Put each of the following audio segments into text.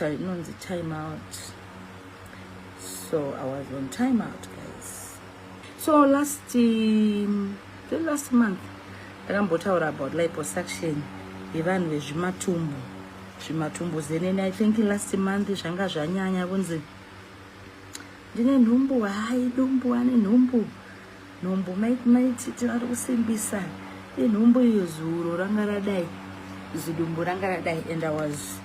inonzi time out so i was on time out guys so last um, the last month ndakambotaura about liposuction yevanhu vezvimatumbu zvimatumbu zenene i think last month zvanga zvanyanya kunzi ndine nhumbu hayi dumbu ane nhumbu nhumbu maiti maiti tinoti kusimbisa inhumbu iyo zuro ranga radai zidumbu ranga radai and i was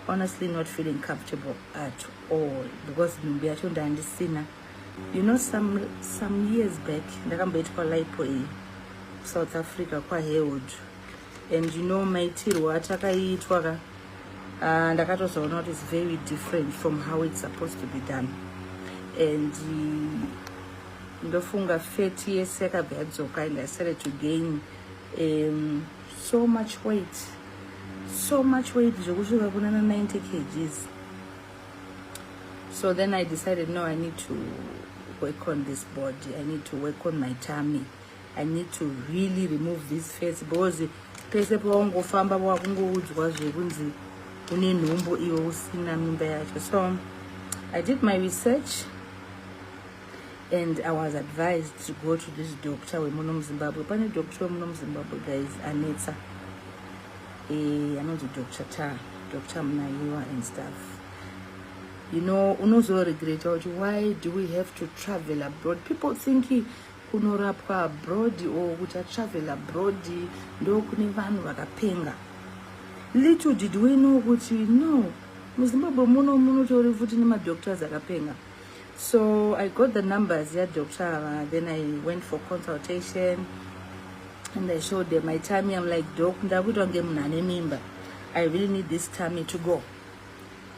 honestly not feeling comfortable at all because nhumbu yacho ndandisina you know some, some years back ndakamboitwa lipo iyi south africa kwahewood and you know maitirwo atakaitwa ka uh, ndakatozoona kuti it's very different from how it's supposed to be done and uh, ndofunga fat yese yakabva yadzoka and i started to gain um, so much weight so much weight zvekusvika kuna na 90 kgs so then i decided no i need to work on this body i need to work on my tummy i need to really remove this face because pese pawangofamba wakungoudzwa zvekunzi une nhumbu iwe usina mimba yacho so i did my research and i was advised to go to this doctor wemuno muzimbabwe pane doctor wemuno muzimbabwe guys anetsa eh, anonzi doctor ta doctor munaiwa and stuff you know unozoregreta kuti why do we have to travel abroad people think kunorapwa abroad or kuti atravel abroad ndokune vanhu vakapenga little did we know kuti no muzimbabwe muno munotori futi nemadoctors akapenga so i got the numbers yadoctor ava then i went for consultation and i showed them my time am like doc ndakuitwa ngemunhu ane mimba i really need this time to go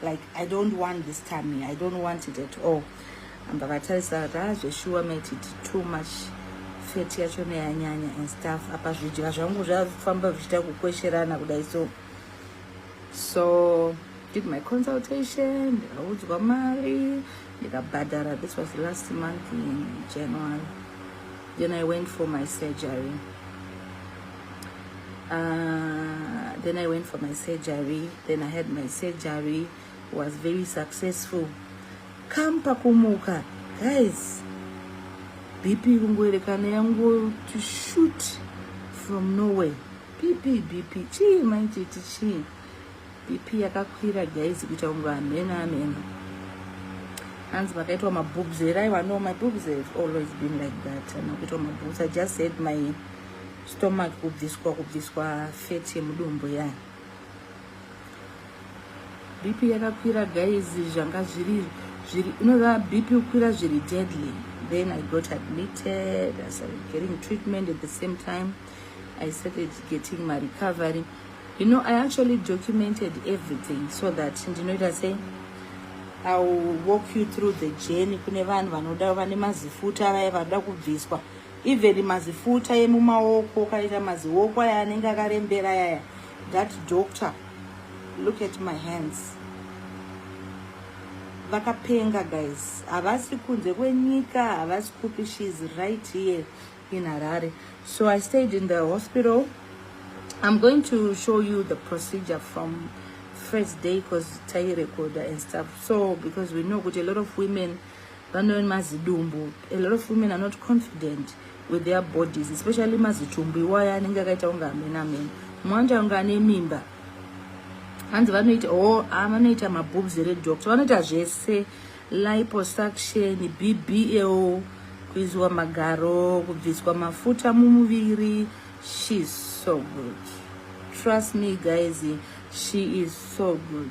like i don't want this time i don't want it at all ambakatarisa kuti ah zveshuwa mate it too much feti yacho neyanyanya and stuff apa zvidya zvangu zvafamba zvichiita kukwesherana kudai so so did my consultation ndikaudzwa mari ndikabhadhara this was last month in january then i went for my surgery Uh, then I went for my surgery. Then I had my surgery. Was very successful. Come pakumuka. Guys, BP kungoerekana yangu to shoot from nowhere. BP, BP. Chii manje chii. BP yakakwira guys kuita kunge amena amena. hanzi makaitwa mabobs here aiwa no my bobs have always been like that anokuitwa mabobs i just said my stomach kubviswa kubviswa fat yemudumbu yayo bp yakakwira guys zvanga zviri zviri inoda bp kukwira zviri deadly then i got admitted i started getting treatment at the same time i started getting my recovery you know i actually documented everything so that ndinoita sei i will walk you through the journey kune vanhu vanoda vane mazifuta vaya vanoda kubviswa even mazifuta emumaoko ukaita mazioko aya anenge akarembera yaya that doctor look at my hands vakapenga guys havasi kunze kwenyika havasi kupi she is right here in harare so i stayed in the hospital i'm going to show you the procedure from first day because tairecorder and stuff so because we know kuti a lot of women Vanowe mazidumbu. A lot of women are not confident with their bodies, especially mazitumbu iwaya anenge akaita kunge amene amene. Mwanja kunge ane mimba. Hanzi vanoita oh, ah, vanoita maboobs here doctor. Vanoita zvese liposuction, BBL, kuizwa magaro, kubviswa mafuta mumuviri. She's so good. Trust me guys, she is so good.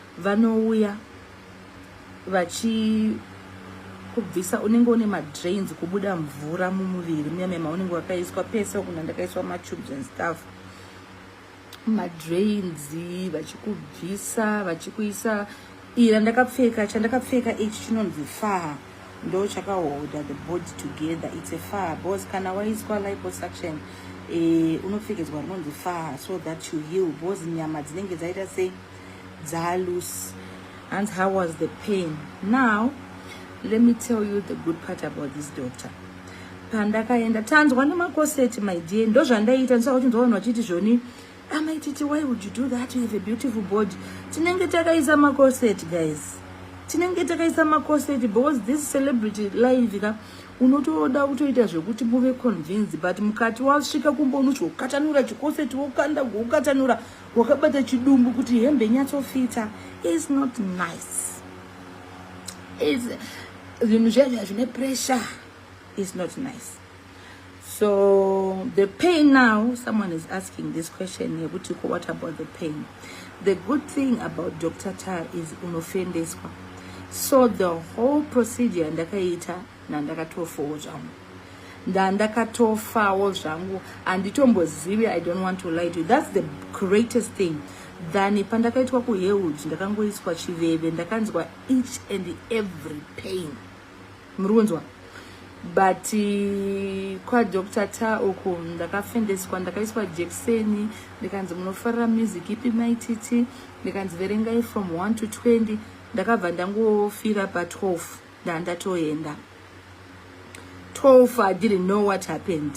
vanouya vachikubvisa unenge une madrains kubuda mvura mumuviri munyame maunenge wakaiswa pese kuna ndakaiswa matubes and stuff madrains vachikubvisa vachikuisa ira ndakapfeka chandakapfeka ichi chinonzi faa ndo chakaholda the body together its a faa bcause kana waiswa liposuction e, eh, unopfekedzwa rinonzi faa so that you heal bcause nyama dzinenge dzaita sei dzaalusi hanzi how was the pain now let me tell you the good part about this doctor pandakaenda tanzwa nemakoseti my dear ndozvandaiita ndisaka kuti ndoona vachiti zvoni amai titi why would you do that you have a beautiful body tinenge takaisa makoseti guys tinenge takaisa makoseti because this celebrity live ka unotoda kutoita zvekuti muve convince but mukati wasvika kumba unochiukatanura chikoseti wokanda kuukatanura wakabata chidumbu kuti hembe nyatsofita is not nice zvinhu zviya zvine pressure is not nice so the pain now someone is asking this question yekuti ko what about the pain the good thing about dr tar is unofendeswa so the whole procedure ndakaita nandakatofowo zvangu ndandakatofawo zvangu handitombozivi i don't want to lie to you that's the greatest thing than pandakaitwa kuheud ndakangoiswa chiveve ndakanzwa each and every pain muri kunzwa but eh, kwadr ta uku ndakafendeswa ndakaiswa jekiseni ndikanzi munofarira music ipi maititi ndikanzi verengai from 1 to 20 ndakabva ndangofira pa 12 ndandatoenda 12 i didn't know what happened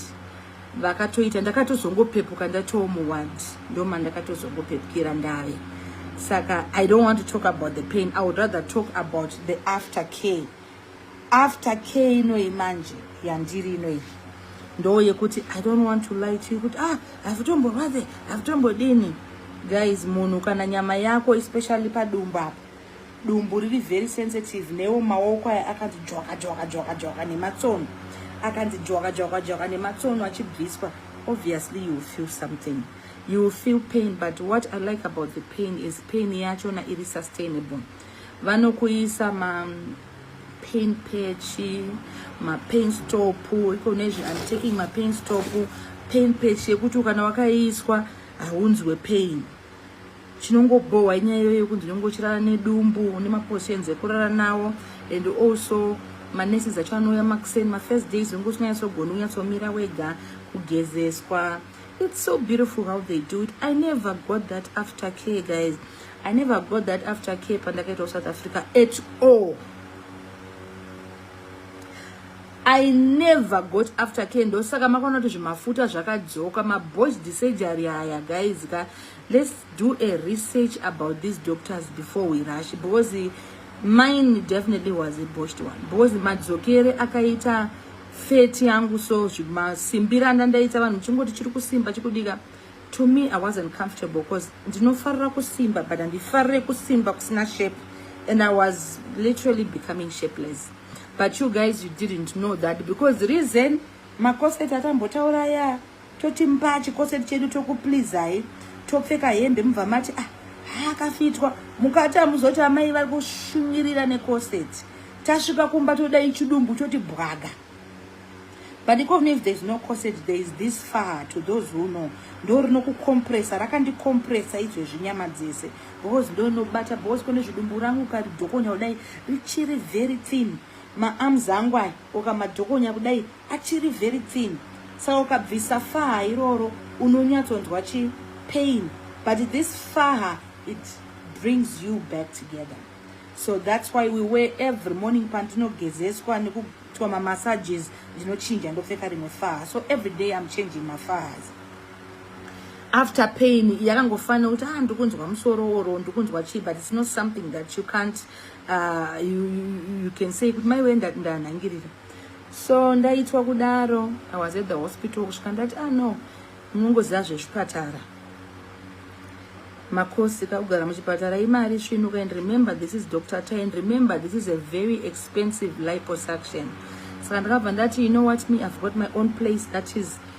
vakatoita ndakatozongopepuka ndatoomuward ndoma ndakatozongopepukira ndave saka i don't want to talk about the pain i would rather talk about the after care after care inoyi manje yandiri inoyi ndo yekuti i don't want to lie to you kuti ah havitomborwadze havitombodini guys munhu kana nyama yako especially padumbu apo dumbu riri very sensitive newo maoko aya akanzi dzvaka dzvaka dzvaka dzvaka nematsono akanzi dzvaka dzvaka dzvaka nematsono achibviswa obviously you feel something you will feel pain but what i like about the pain is pain yachona iri sustainable vanokuisa ma pain patch mapain stop iko nezve im taking mapain stop pain patch yekuti kana wakaiswa haunzwe pain chinongobhohwa inyaya iyoyo yekunzi unenge uchirara nedumbu une mapositions ekurara nawo and also maneses acho anouya makuseni mafirst days unenge usinganyatsogoni kunyatsomira wega kugezeswa it's so beautiful how they do it i never got that after care guys i never got that after care pandakaita kusouth africa at all I never got after care ndosaka makaona kuti zvimafuta zvakadzoka maboys disurgery aya guys ka let's do a research about these doctors before we rush because mine definitely was a boshed one because madzokere akaita feti yangu so zvimasimbi randa ndaita vanhu chingoti chiri kusimba chikudika to me i wasn't comfortable because ndinofarira kusimba but handifarire kusimba kusina shape and i was literally becoming shapeless but you guys you didn't know that because reason makoseti atambotaura ya toti mba chikoseti chedu tokuplizai topfeka hembe mubva mati ah akafitwa mukati amuzoti amai vari kushunyirira nekoseti tasvika kumba todai chidumbu choti bwaga but even if there's no corset there is this far to those who know ndo rinokukkompresa rakandikkompresa izvezvi nyama dzese Boz ndonobata boz kone zvidumbu rangu ukadhokonya kudai richiri very thin maarms angu aya ukamadhokonya kudai achiri very thin saka ukabvisa faha iroro unonyatsonzwa chi pain but this faha it brings you back together so that's why we wear every morning pandinogezeswa nekuitwa mamassages ndinochinja ndopfeka rimwe faha so every day i'm changing mafahas after pain yakangofanira kuti ah ndikunzwa musoro or ndikunzwa chii but it's not something that you can't uh, you, you, you can say kuti mai wee ndanhangirira so ndaitwa kudaro i was at the hospital kusvika ndati ah no munongoziva zvechipatara makosi kakugara muchipatara imari svinuka and remember this is dr ty and remember this is a very expensive liposuction saka ndakabva ndati you know what me i've got my own place that is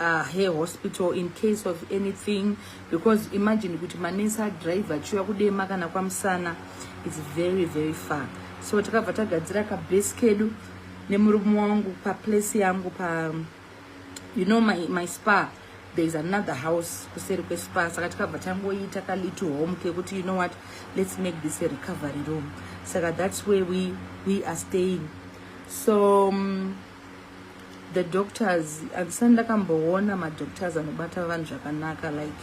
uh, her hospital in case of anything because imagine kuti manesi adrive achiuya kudema kana kwamusana its very very far so takabva tagadzira kabase kedu nemurume wangu paplace yangu pa you know my, my spa there is another house kuseri kwespa saka tikabva tangoita kalitu home kekuti you know what let's make this a recovery room saka that's where we, we are staying so um, the doctors andisani ndakamboona madoctors anobata vanhu zvakanaka like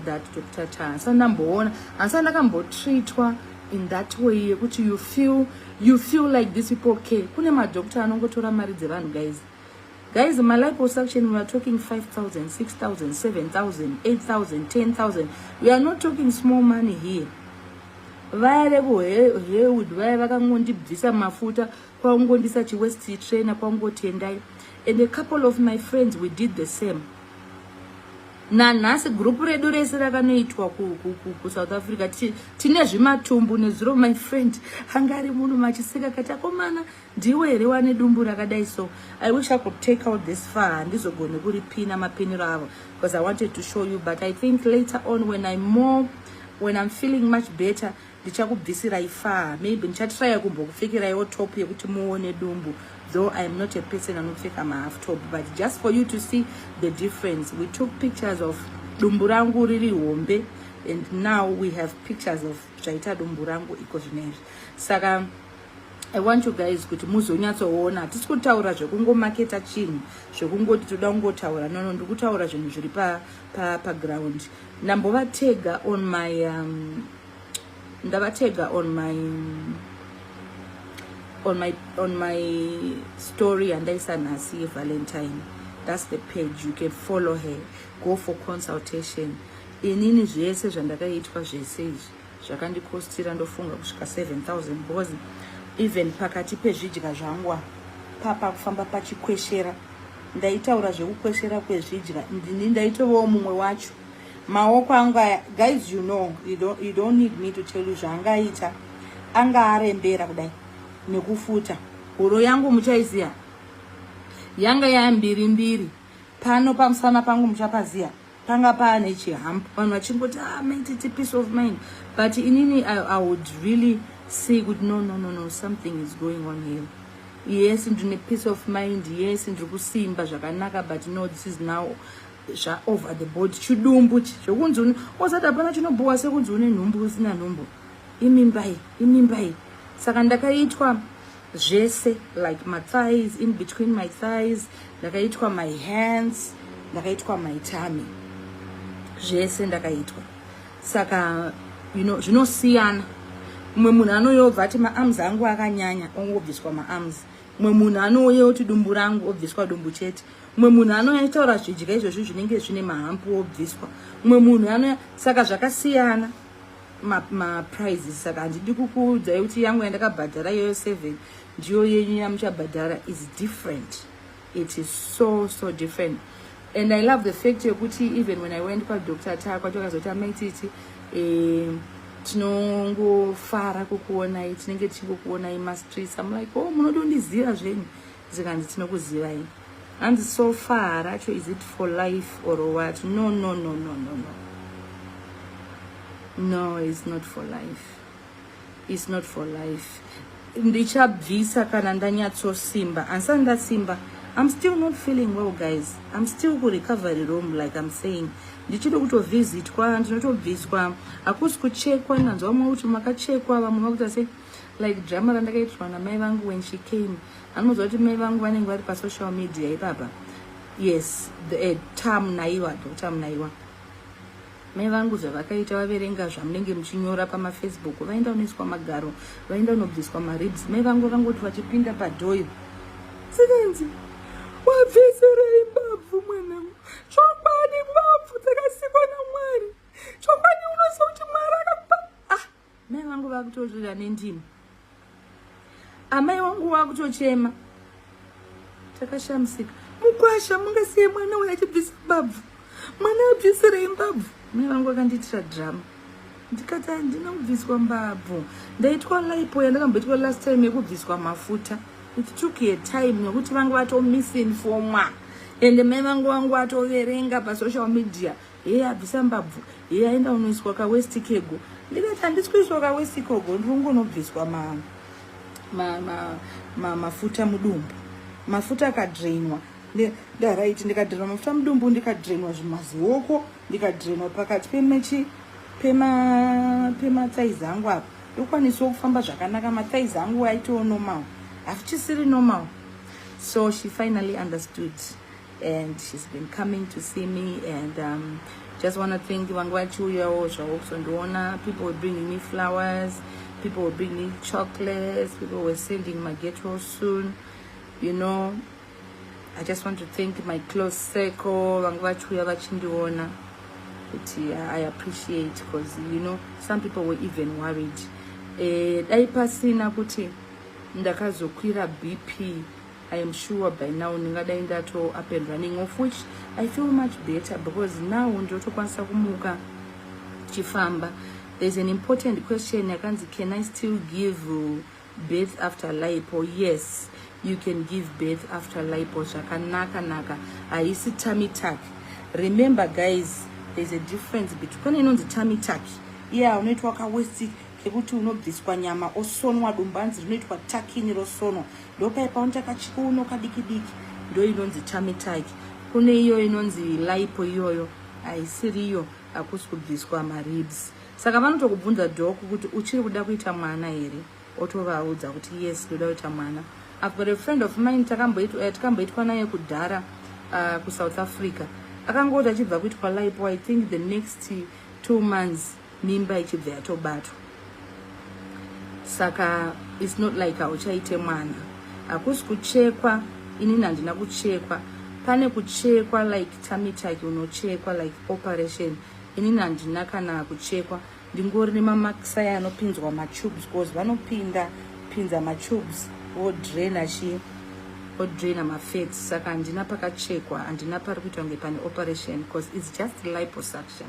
that doctor ta andisani ndamboona andisani ndakambotreatwa in that way yekuti you feel you feel like this people okay kune madoctor anongotora mari dzevanhu guys guys maliposuction weare talking 5000 6000 7000 8000 10000 we are not talking small money here vaya vekuhewood vaya vakangondibvisa mafuta kwakungondisa chiwest trainer kwakungoti endai and a couple of my friends we did the same nanhasi group redu rese rakanoitwa kusouth africa tine zvimatumbu nezuro my friend anga ari munhu machiseka kati akomana ndiwe here wane dumbu rakadai so i wish i could take out this far handizogone kuripina mapiniro avo because i wanted to show you but i think later on when i more when i'm feeling much better ndichakubvisirai faa maybe ndichatiraya kumbokupfekeraiwo top yekuti muone dumbu though iam not a person anopfeka mahalf top but just for you to see the difference we took pictures of dumbu rangu riri hombe and now we have pictures of zvaita dumbu rangu iko zvinezvi saka i want you guys kuti muzonyatsoona hatisi kutaura zvekungomaketa chinhu zvekungoti toda kungotaura nono ndikutaura zvinhu zviri paground pa, pa Ndambovatega on my um, ndavatega on my on my on my story yandaisa nhasi yevalentine that's the page you can follow her go for consultation inini zvese zvandakaitwa zvese izvi zvakandikostira ndofunga kusvika 7000 because even pakati pezvidya zvangwa papa kufamba pachikweshera ndaitaura zvekukweshera kwezvidya ndini ndaitovawo mumwe wacho maoko angu aya guys you know you don't, you don't need me to tell you zvaangaita anga arembera kudai nekufuta huro yangu muchaiziva yanga yambiri mbiri pano pamusana pangu muchapaziva panga paane chihamp vanhu vachingoti ah, mentity peace of mind but inini I, i would really say kuti no no no no something is going on here yes ndine peace of mind yes ndiri kusimba zvakanaka but no this is now zvaover the body chidumbu zvekunzi une osati hapana chinobhowa sekunzi une nhumbu usina nhumbu imimbai imimbai saka ndakaitwa zvese like my thighs in between my thighs ndakaitwa my hands ndakaitwa my tummy zvese ndakaitwa saka you know zvinosiyana mumwe munhu anoyobva ati maarms angu akanyanya ongobviswa maarms mumwe munhu anouya oti dumbu rangu obviswa dumbu chete mumwe munhu anoitaura zvidya izvozvi zvinenge zvine mahampu obviswa mumwe munhu anoya saka zvakasiyana maprizes ma saka handidi kukuudzai kuti yangu yandakabhadhara iyoyo seven ndiyo yenyu yamuchabhadhara is different it is so so different and i love the fact yekuti even when i went kwadoctor taa kwati vakazoti amaititi eh, tinongofara kukuonai tinenge tichingokuonai mastreets am like o oh, munoda kundiziva zvenyu Zikanzi tinokuzivai. Hanzi so far racho is it for life or what? No no no no no no. No, it's not for life. It's not for life. Ndichabvisa kana ndanyatso simba. Ansa ndasimba. I'm still not feeling well guys. I'm still ku recovery room like I'm saying. ndichiri kutovhizitwa ndinotobviswa hakusi kuchekwa nanzwa vamwe kuti makachekwa vamwe vakuita se like drama randakaitirwa namai vangu when she came anoziva kuti mai vangu vanenge vari pasocial media ipapa yes the, uh, eh, tam naiwa dota mnaiwa mai vangu zvavakaita vaverenga zvamunenge muchinyora pamafacebook vaenda unoiswa magaro vaenda unobviswa maribs mai vangu vakangoti vachipinda padhoyo sikenzi wabviserei mbabvu mwanangu chokwadi mbabvu dzakasikwa namwari chokwadi unoziva kuti mwari akakupa Mai vangu vakutorira nendimi. Amai wangu wakutochema. Takashamisika. Mukwasha mungasiye mwana uya achibvisa mbabvu. Mwana abvisirei mbabvu? Mai vangu vakandiitira drama. Ndikati handina kubviswa mbabvu. Ndaitwa lipo yandakamboitwa last time yekubviswa mafuta. It took a time nekuti vanga vatomisinfomwa. Ende mai vangu vangu vatoverenga pasocial media. heya bvisa mbabvu heya enda unoiswa kawesti kego ndikati handisi kuiswa kawesti kogo ndiri kungonobviswa ma, ma, ma, ma, mafuta mudumbu mafuta akadrainwa ndaraiti ndikadrainwa mafuta mudumbu ndikadrainwa zvimazioko ndikadrainwa pakati pemechi pemathais pema angu apa ndokwanisawo kufamba zvakanaka mathais angu aitowo normal hafichisiri normal so she finally understood and she's been coming to see me and um, just want to thank you vanga vachiuyawo zvavo kuzondiona people were bringing me flowers people were bringing me chocolates people were sending my ghetto soon you know i just want to thank my close circle vanga vachiuya vachindiona kuti i appreciate because you know some people were even worried eh, dai pasina kuti ndakazokwira bp I am sure by now ndingadai ndato up and running of which I feel much better because now ndotokwanisa kumuka chifamba there's an important question yakanzi can I still give birth after lipo yes you can give birth after lipo zvakanaka naka haisi tamitak remember guys there's a difference between pane inonzi tamitak iya yeah, unoitwa kawestik ekuti unobviswa nyama osonwa dumbu anzi rinoitwa takini rosonwa ndopai paunota kachiuno kadiki diki ndo inonzi tamitaki kune iyo inonzi laipo iyoyo haisiri iyo hakusi kubviswa maribs saka vanotokubvunza dhoku kuti uchiri kuda kuita mwana here otovaudza kuti yes ndoda kuita mwana i've got a friend of mine eh, takamboitwa naye kudhara uh, kusouth africa akangooti achibva kuitwa laipo i think the next two months mimba ichibva yatobatwa saka its not like hauchaite mwana hakusi kuchekwa inini handina kuchekwa pane kuchekwa like tamitaki unochekwa like operation inini handina kana kuchekwa ndingori nemamakisai anopinzwa matubes bcause vanopinda pinza matubes vodraina chii odraina mafats saka handina pakachekwa handina pari kuita kunge pane operation because its just liposuction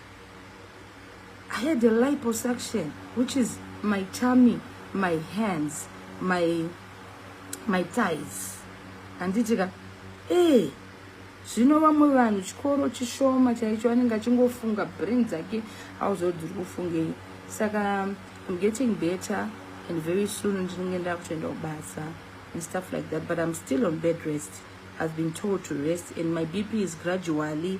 I had a liposuction, which is my tummy, my hands, my, my thighs. Handitika, eh, zvino vamwe vanhu chikoro chishoma chaicho anenge achingofunga brain dzake auziva dziri kufungei saka im getting better and very soon ndinenge ndakutoenda kubasa and stuff like that but im still on bed rest i've been told to rest and my bp is gradually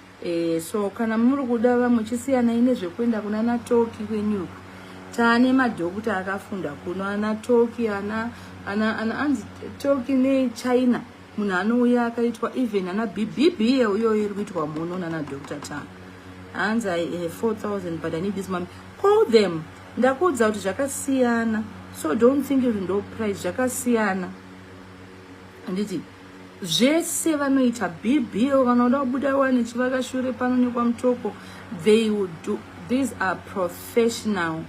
e, so kana muri kuda vamwe chisiyanai nezvekuenda kuna natoki kwenyuku taane madhokuta akafunda kuno ana toki ana ana ana anzi toki nechina munhu anouya akaitwa even ana bibibie uyoyo iri kuitwa muno nana doctor ta hanzi i have 4000 but i need this money call them ndakuudza kuti zvakasiyana so don't think kuti ndo price zvakasiyana handiti zvese vanoita bbo vanoda kubuda wani chivakashure pano nekwamutoko they will do these are professional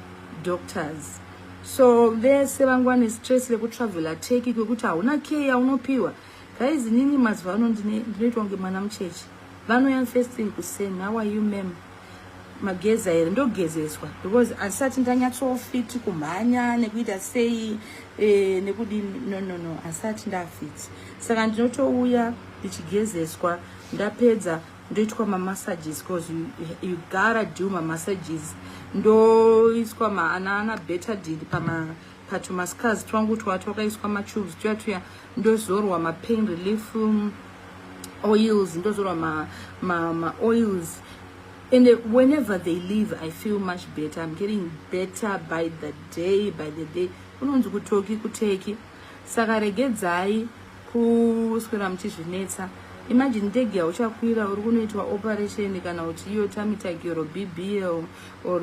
doctors so vese vangu vane stress rekutravela teki kwekuti hauna key yaunopiwa guys inini mazuva ano ndinoitwa kunge mwana mucheche vanoya first thing kuseni how are you mem mageza here ndogezeswa because asati ndanyatsofiti kumhanya nekuita sei e, nekudini no no no asati ndafiti saka ndinotouya ndichigezeswa ndapedza ndoitwa mamassages bcause you, you gotta do mamassages ndoiswa maanana betadin pama patumascars twangu twatwakaiswa matubes tuya tuya ndozorwa mapain relief um, oils ndozorwa ma, ma, ma oils and whenever they leave i feel much better i'm getting better by the day by the day unonzi kutoki kuteki saka regedzai kuswera muchizvinetsa imagine ndege yauchakwira uri kunoitwa operation kana kuti iyo tamitagiro bbl or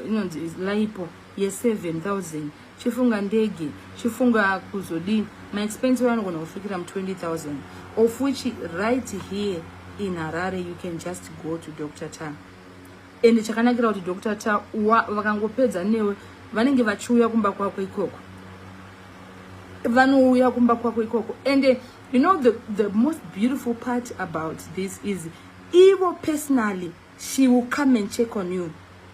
inonzi laipo ye 7000 chifunga ndege chifunga kuzodii maexpense wayo anogona kusvikira mu 20000 of which right here in harare you can just go to dr ta ende chakanakira kuti dr ta vakangopedza newe vanenge vachiuya kumba kwako ikoko vanouya kumba kwako ikoko ende you know the, the most beautiful part about this is ivo personally She will come and check on you.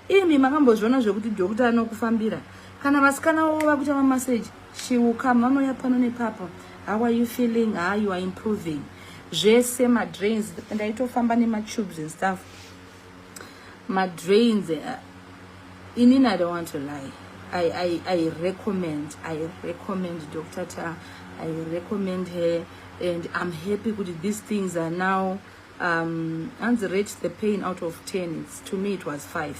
Imi makambozviona zvekuti doctor anokufambira. Kana vasikana wavo vakuita mamassage, she will come vanouya pano nepapa. How are you feeling? Ah, you are improving. Zvese madrains ndaitofamba nematubes and stuff. Madrains uh, eh, inini I don't want to lie. I, I, I recommend, I recommend Dr. Ta, I recommend her and I'm happy with these things are now um, hanzi rate the pain out of 10 it's, to me it was 5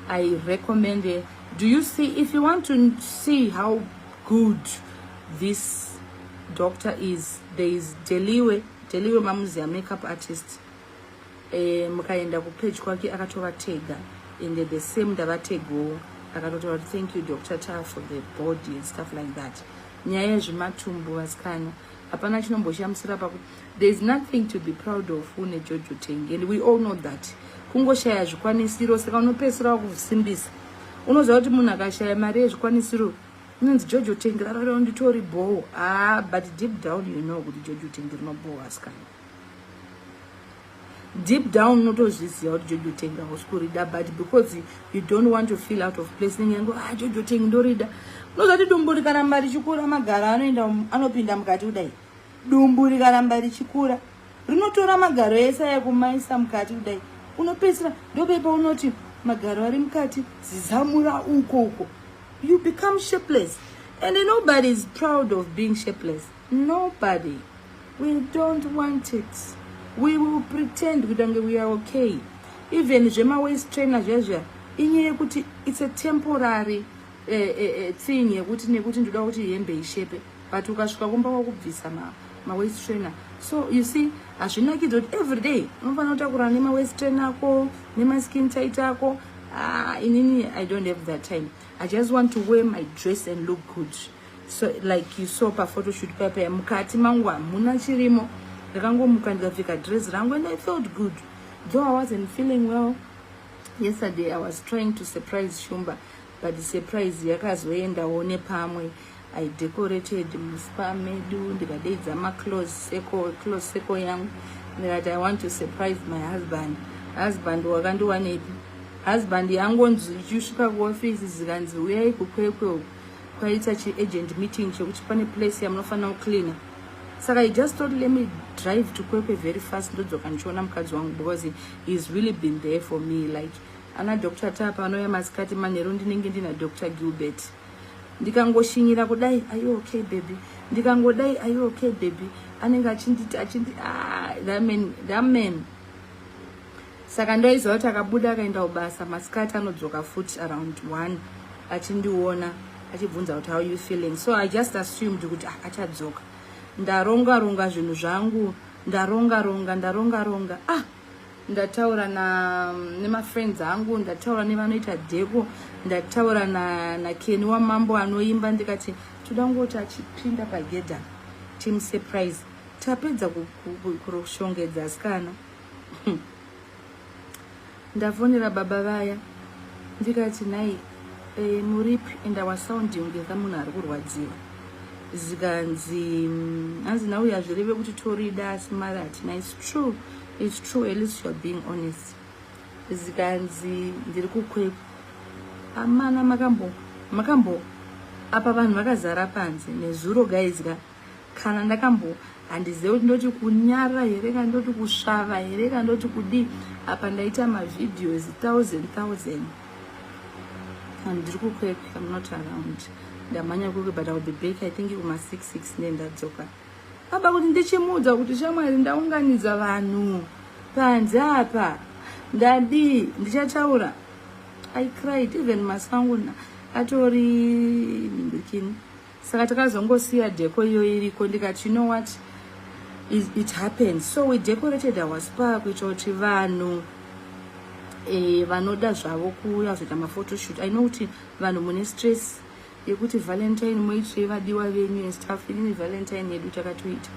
i recommend it. do you see if you want to see how good this doctor is there is deliwe deliwe mamuziya makeup artist eh, mukaenda kupage kwake akatovatega ende the same ndavategowo akatotaura kuti thank you doctor ta for the body and stuff like that nyaya yezvematumbu vasikana hapana chinomboshamisira paku there is nothing to be proud of une jojo tenge and we all know that kungoshaya zvikwanisiro saka unopedzisira wakusimbisa unoziva kuti munhu akashaya mari yezvikwanisiro inonzi jojo tenge rararao nditori bhoho ah but deep down you know kuti jojo tenge rinobhoho asikana deep down unotozviziva kuti jojo teng hausi kurida but because you don't want to feel out of place nenge yangu ah jojo teng ndorida unoziva kuti dumbu rikaramba richikura magaro anoenda um, anopinda mukati kudai dumbu rikaramba richikura rinotora magaro ese ayekumaisa mukati kudai unopedzisira ndopepa unoti magaro ari mukati zizamura uko uko you become shapeless and nobody is proud of being shapeless nobody we don't want it we will pretend kuita kunge we are okay even zvemawaist trainer zviya zviya inyaya yekuti it's a temporary uh, uh, uh, thing yekuti nekuti ndoda kuti hembe ishepe but ukasvika kumba kwakubvisa ma, ma waist trainer so you see hazvinakidza kuti every day unofanira kutakurana nemawaist trainer ako nemaskin tight ako ah, inini i don't have that time i just want to wear my dress and look good so like you saw paphotoshoot paya paya mukati mangu hamuna chirimo ndakangomuka ndikapfeka dress rangu and i felt good though i wasn't feeling well yesterday i was trying to surprise shumba but surprise yakazoendawo nepamwe i decorated muspa medu ndikadeidza maclose circle close circle yangu ndikati i want to surprise my husband husband wakandiwanepi husband yangonzi ichisvika kuofisi zikanzi uyai kukwekwe uku kwaita chiagent meeting chekuti pane place yamunofanira kucleana saka he just thought let me drive to kwekwe very fast ndodzoka ndichiona mukadzi wangu because heis really been there for me like ana dr tapa vanouya masikati manheru ndinenge ndina dr gilbert ndikangoshinyira kudai ayo okay baby ndikangodai ayo okay baby anenge achinditi achindi ah, that man that man saka ndaiziva kuti akabuda akaenda kubasa masikati anodzoka futi around one achindiona achibvunza kuti how you feeling so i just assumed kuti ah, achadzoka ndaronga ronga zvinhu zvangu ndaronga ronga ndaronga ronga ah ndataura na nemafriends angu ndataura nevanoita dheko ndataura na, na keni wamambo anoimba ndikati toda ngoti achipinda pagedha team surprise tapedza kuroshongedza asikana ndafonera baba vaya ndikati nhai e, muripi and our sound yongeza munhu ari kurwadziwa zikanzi mm, hanzi nhau yazvireve kuti torida asi mari hatina its true its true at least youare being honest zikanzi ndiri kukwepa amana makambo makambo apa vanhu vakazara panze nezuro gaizi ka kana ndakambo handizive kuti ndoti kunyara here kana ndoti kusvava here kana ndoti kudii apa ndaita mavideos thousand thousand and ndiri kukwek am not around ndamhanya kwekwe but iwill be back i think kuma six six ne ndadzoka aba kuti ndichimuudza kuti shamwari ndaunganidza vanhu panze apa ndadii ndichataura i cried even masangu atori ndikini saka takazongosiya deko iyo iriko ndikati you know what it, it happened so we decorated our spa kuitira kuti vanhu eh, vanoda zvavo kuuya zoita mafotoshoot i know kuti vanhu mune stress yekuti valentine moitirei vadiwa venyu and stuff inini valentine yedu takatoita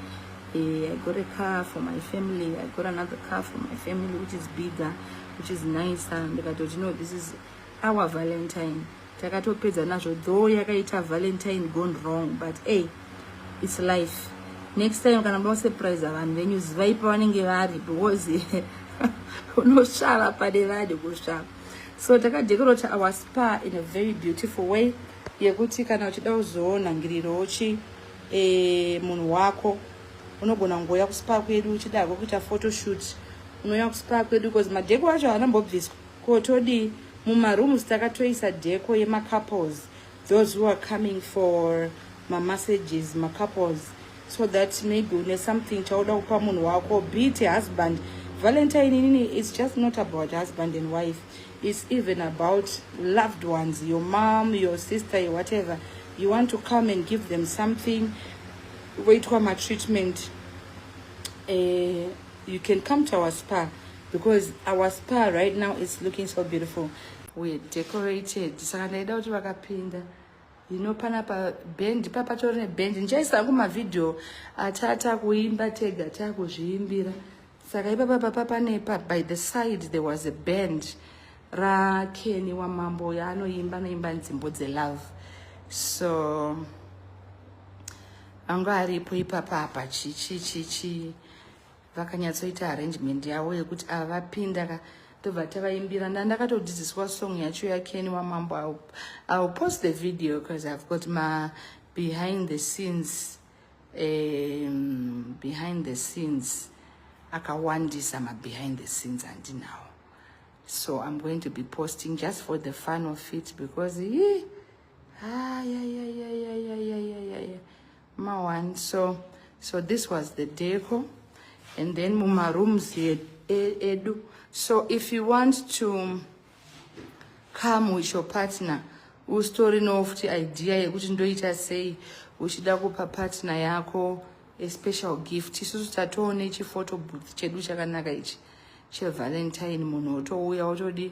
eh, i got a car for my family i got another car for my family which is bigger which is nicer ndikatoti no this is our valentine takatopedza nazvo though yakaita valentine gone wrong but a its life next time kana muda kusurprise vanhu venyu zivai pavanenge vari because unosvava pane vanhu kusvava so takadekorota our spa in a very beautiful way yekuti kana uchida kuzoona ngiriro uchi e, munhu wako unogona kungouya kuspa kwedu uchidako kuita photoshoot unouya kuspa kwedu because madheko acho haana mbobviswa Ko todii mumarooms takatoisa deco yemacouples those who are coming for mamassages macouples so that maybe une something chauda kupa munhu wako be it husband valentine inini it's just not about husband and wife it's even about loved ones your mom your sister your whatever you want to come and give them something voitwa matreatment eh, you can come to our spa because our spa right now is looking so beautiful we're decorated saka ndaida kuti vakapinda you know pana pa band pa patori ne band ndichaisa angu mavideo atata kuimba tega takuzviimbira saka ipapa papa pane pa by the side there was a band rakeni wamambo yaanoimba anoimba nzimbo dzelove so anga aripo ipapa apa chichichichi chi, chi, chi. vakanyatsoita arrangement yavo yekuti ava vapinda ka tobva tavaimbira nda ndakatodzidziswa song yacho yakeni wamambo iwill post the video because i've got ma behind the scenes um, behind the scenes akawandisa ma behind the scenes andinawo so i'm going to be posting just for the fun of it because yee maone so so this was the deco and then mumarooms edu so if you want to come with your partner usitori no futi idea yekuti ndoita sei uchida kupa partner yako a special gift isusu tatoone chiphoto booth chedu chakanaka ichi chevalentine munhu otouya otodii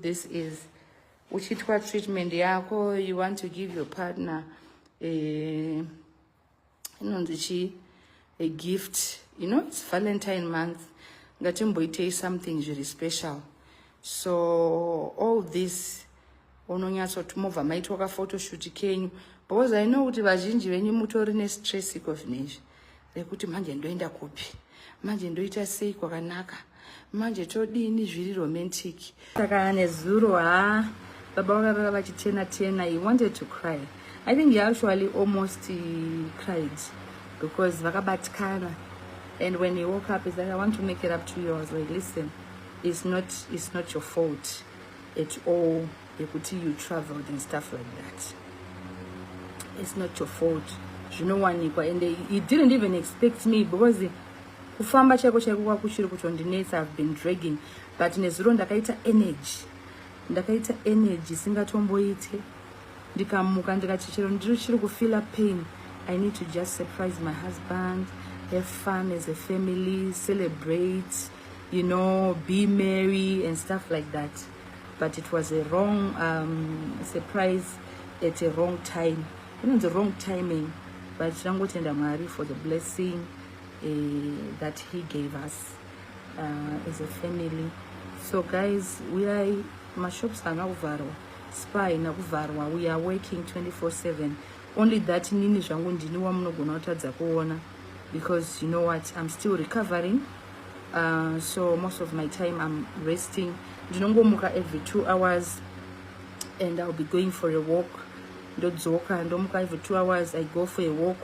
this is uchiitwa treatment yako you want to give your partner eh, inonzi chii a gift you know it's valentine month ngatimboitei something zviri special so all this unonyatsoti mobva maitwa kafotoshoot kenyu because i know kuti vazhinji venyu mutori nestress iko zvinezvi nekuti manje ndoenda kupi manje ndoita sei kwakanaka manje todini zviri romantic saka nezuro ha baba vakarara vachitena tena he wanted to cry i think he actually almost cried because vakabatikana and when he woke up is like i want to make it up to you i was like listen it's not, it's not your fault at all yekuti you traveled and stuff like that it's not your fault zvinowanikwa and he didn't even expect me because kufamba chaiko chaiko kwakuchiri kutondinetsa have been dragging but nezuro ndakaita energy ndakaita energy isingatomboite ndikamuka ndikati chero ndiri chiri kufeela pain i need to just surprise my husband have fun as a family celebrate you know be merry and stuff like that but it was a wrong um, surprise at a wrong time kunonzi wrong timing but tinangotenda mwari for the blessing uh, that he gave us uh, as a family so guys uyai mashops haana kuvharwa spa haina kuvharwa we are working 24/7 only that nini zvangu ndini wamunogona kutadza kuona because you know what i'm still recovering uh, so most of my time i'm resting ndinongomuka every two hours and i'll be going for a walk ndodzoka ndomuka every two hours i go for a walk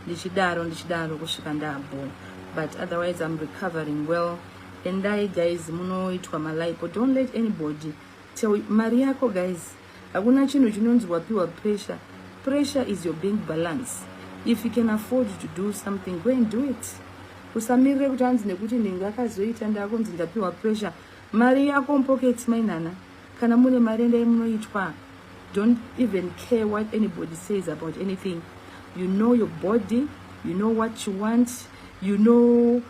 ndichidaro ndichidaro kusvika ndabho but otherwise i'm recovering well endai guys munoitwa malipo don't let anybody tell mari yako guys Hakuna chinhu chinonzi wapiwa pressure. Pressure is your bank balance. If you can afford to do something, go and do it. Usamirire kuti hanzi nekuti nenge akazoita ndakunzi ndapiwa pressure. Mari yako mupocket mainana. Kana mune mari endai munoitwa. Don't even care what anybody says about anything. You know your body, you know what you want, you know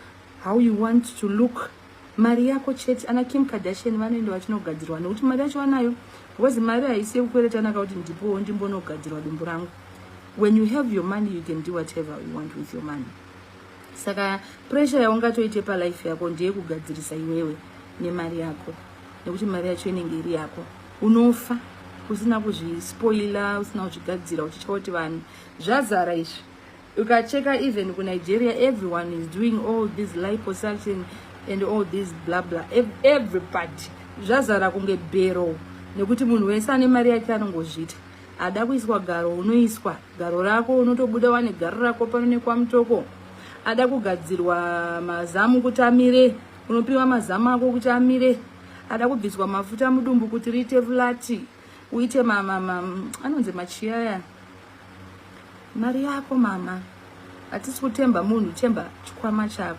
how you want to look. mari yako chete ana kim kardashian vanoenda vachinogadzirwa nekuti mari yacho vanayo because mari haisi yekukweretanaka kuti ndipowo ndimbonogadzirwa dumbu rangu when you have your money you can do whatever you want with your money saka pressure yaungatoite palife yako ndeyekugadzirisa iwewe nemari yako nekuti mari yacho inenge iri yako unofa usina kuzvispoila usina kuzvigadzira uchityauti vanhu zvazara izvi ukacheka even kunigeria everyone is doing all this liposuction and all this bla bla everybody zvazara kunge bero nekuti munhu wese ane mari yake anongozvita ada kuiswa garo unoiswa garo rako unotobuda wane garo rako pano nekwamutoko ada kugadzirwa mazamu kuti amire unopiwa mazamu ako kuti amire ada kubviswa mafuta mudumbu kuti riite vulati uite mama mama anonzi machiyaya mari yako mama hatisi kutemba munhu temba chikwama chako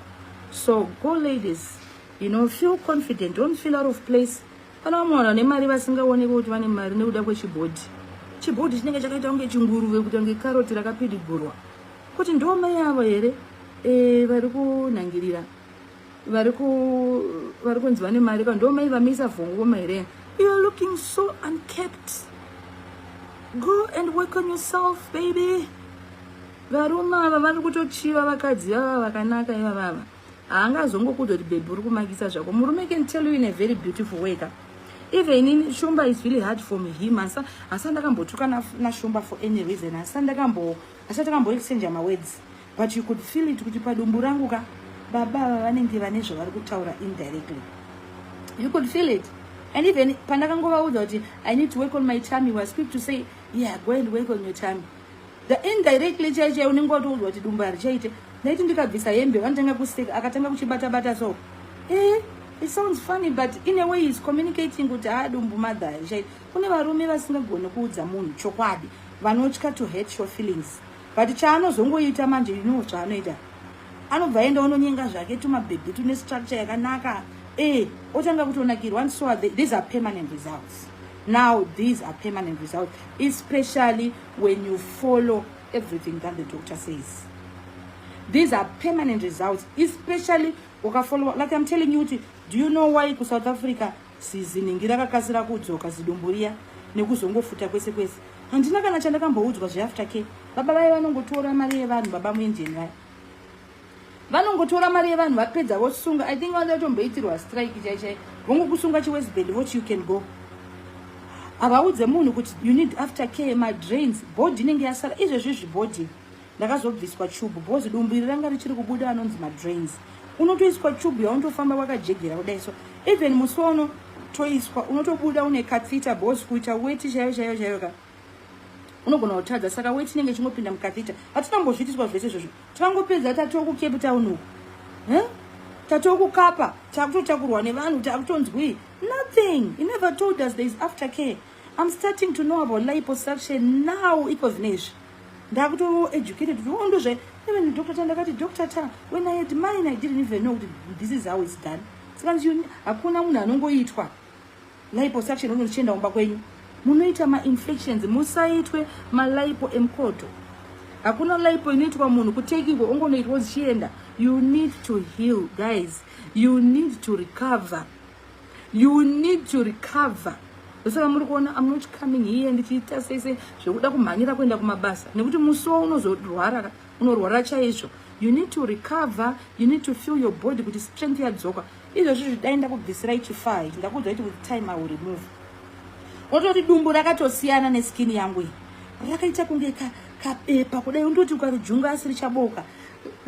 so go ladies you know feel confident don't feel out of place pana vamwe vanhu vane mari vasingaoneki kuti vane mari nekuda kwechibhodhi chibhodhi chinenge chakaita kunge chinguruve kuita kunge karoti rakapidigurwa kuti ndomai avo here e, vari kunhangirira vari ku vari kunzi vane mari ka ndo mai vamisa vhongo voma here you are looking so unkept go and work on yourself baby varume ava vari kutochiva vakadzi vava vakanaka iva vava haangazongokuti kuti bhebhi uri kumakisa zvako murume can tell you in a very beautiful way ka even in shumba is really hard for me him asi asi ndakambotuka nashumba for any reason asi ndakambo asi ndakambo exchange mawords but you could feel it kuti padumbu rangu ka baba ava vanenge vane zvavari kutaura indirectly you could feel it and even pandakangovaudza kuti i need to work on my time was quick to say yeah go and work on your time the indirectly chai chai unenge watoudzwa kuti dumbu harichaite ndaiti ndikabvisa hembe vanotanga kuseka akatanga kuchibata bata so eh it sounds funny but in a way is communicating kuti haa ah, dumbu mother harichaite kune varume vasingagone kuudza munhu chokwadi vanotya to hate your feelings but chaanozongoita manje you know chaanoita anobva aenda ononyenga zvake tumabhebhi tune structure yakanaka e otanga kutonakirwa and so are they, these are permanent results now these are permanent results especially when you follow everything that the doctor says these are permanent results especially ukafollowa like i'm telling you kuti do you know why kusouth africa Zizi nhingi rakakasira kudzoka zidumbu riya nekuzongofuta kwese kwese. Handina kana chandakamboudzwa zveafter care. Baba vaye vanongotora mari yevanhu baba muindian vaya. Vanongotora mari yevanhu vapedza vosunga. I think vanoda kutomboitirwa strike chai chai. Vongokusunga chiwestband vochi you can go. Havaudze munhu kuti you need after care my drains body inenge yasara izvezvi izvi body. ndakazobviswa chubhu bhozi dumbu iri ranga richiri kubuda anonzi madrains unotoiswa chubhu yaunotofamba wakajegera kudai so even musi wauno toiswa unotobuda une kathita bhozi kuita weti chaiyo chaiyo chaiyo ka unogona kutadza saka weti inenge ichingopinda mukathita hatinambozviitiswa zvese izvozvo tinangopedza tatoo kucape town uku huh? tatoo kukapa takutotakurwa nevanhu takutonzwii nothing he never told us there is after care i'm starting to know about liposuction now iko zvine izvi ndakuto educated kuti oh ndozve even dr ta ndakati dr ta when i had mine i didn't even know kuti this is how it's done saka hakuna munhu anongoitwa liposuction uno uchienda kumba kwenyu munoita mainfections musaitwe malipo emukoto hakuna lipo inoitwa munhu kutekingwa ongonoitwa uchienda you need to heal guys you need to recover you need to recover ndosaka muri kuona am not coming here ndichiita sei sei zvekuda kumhanyira kuenda kumabasa nekuti musi wo unozorwara unorwara chaizvo you need to recover you need to feel your body kuti strength yadzoka izvozvi zvidai ndakubvisira ichifaa ichi ndakuudzai kuti with time iwill remove wototi dumbu rakatosiyana neskin yangu iyi rakaita kunge kabepa kudai undoti ukarujunga asiri chaboka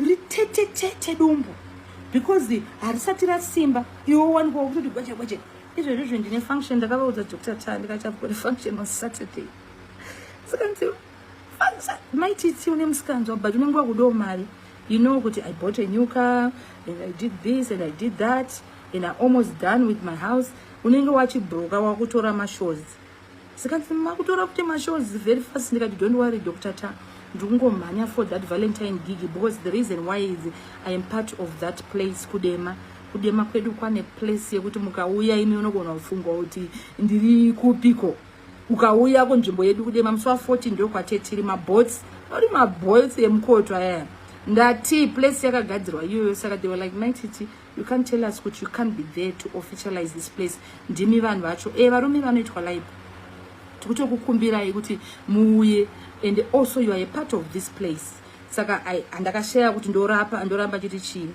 ritetetete dumbu because harisati rasimba iwe wanikwa kutoti gweje gweje izvezvi zve ndine function ndakavaudza doctor ta ndikachavukore function on saturday sikanzi maititi une musikanzwa but unenge wakudawo mari you know kuti i bought a new car and i did this and i did that and i almost done with my house unenge wachibroka wakutora mashozi zvikanzi makutora kuti mashows very fast ndikati don't worry dr ta ndiri kungomhanya for that valentine gig because the reason why is i am part of that place kudema kudema kwedu kwane place yekuti mukauya imi unogona kufunga kuti ndiri kupiko ukauya kunzvimbo yedu kudema musi wa 14 ndo kwatetiri mabots ori mabots emukoto ayaya ndati place yakagadzirwa iyoyo saka they were like maititi you can't tell us kuti you can't be there to officialize this place ndimi vanhu vacho e varume vanoitwa live tikutokukumbirai kuti muuye and also you are a part of this place saka andakashaya kuti ndorapa ndoramba chiti chii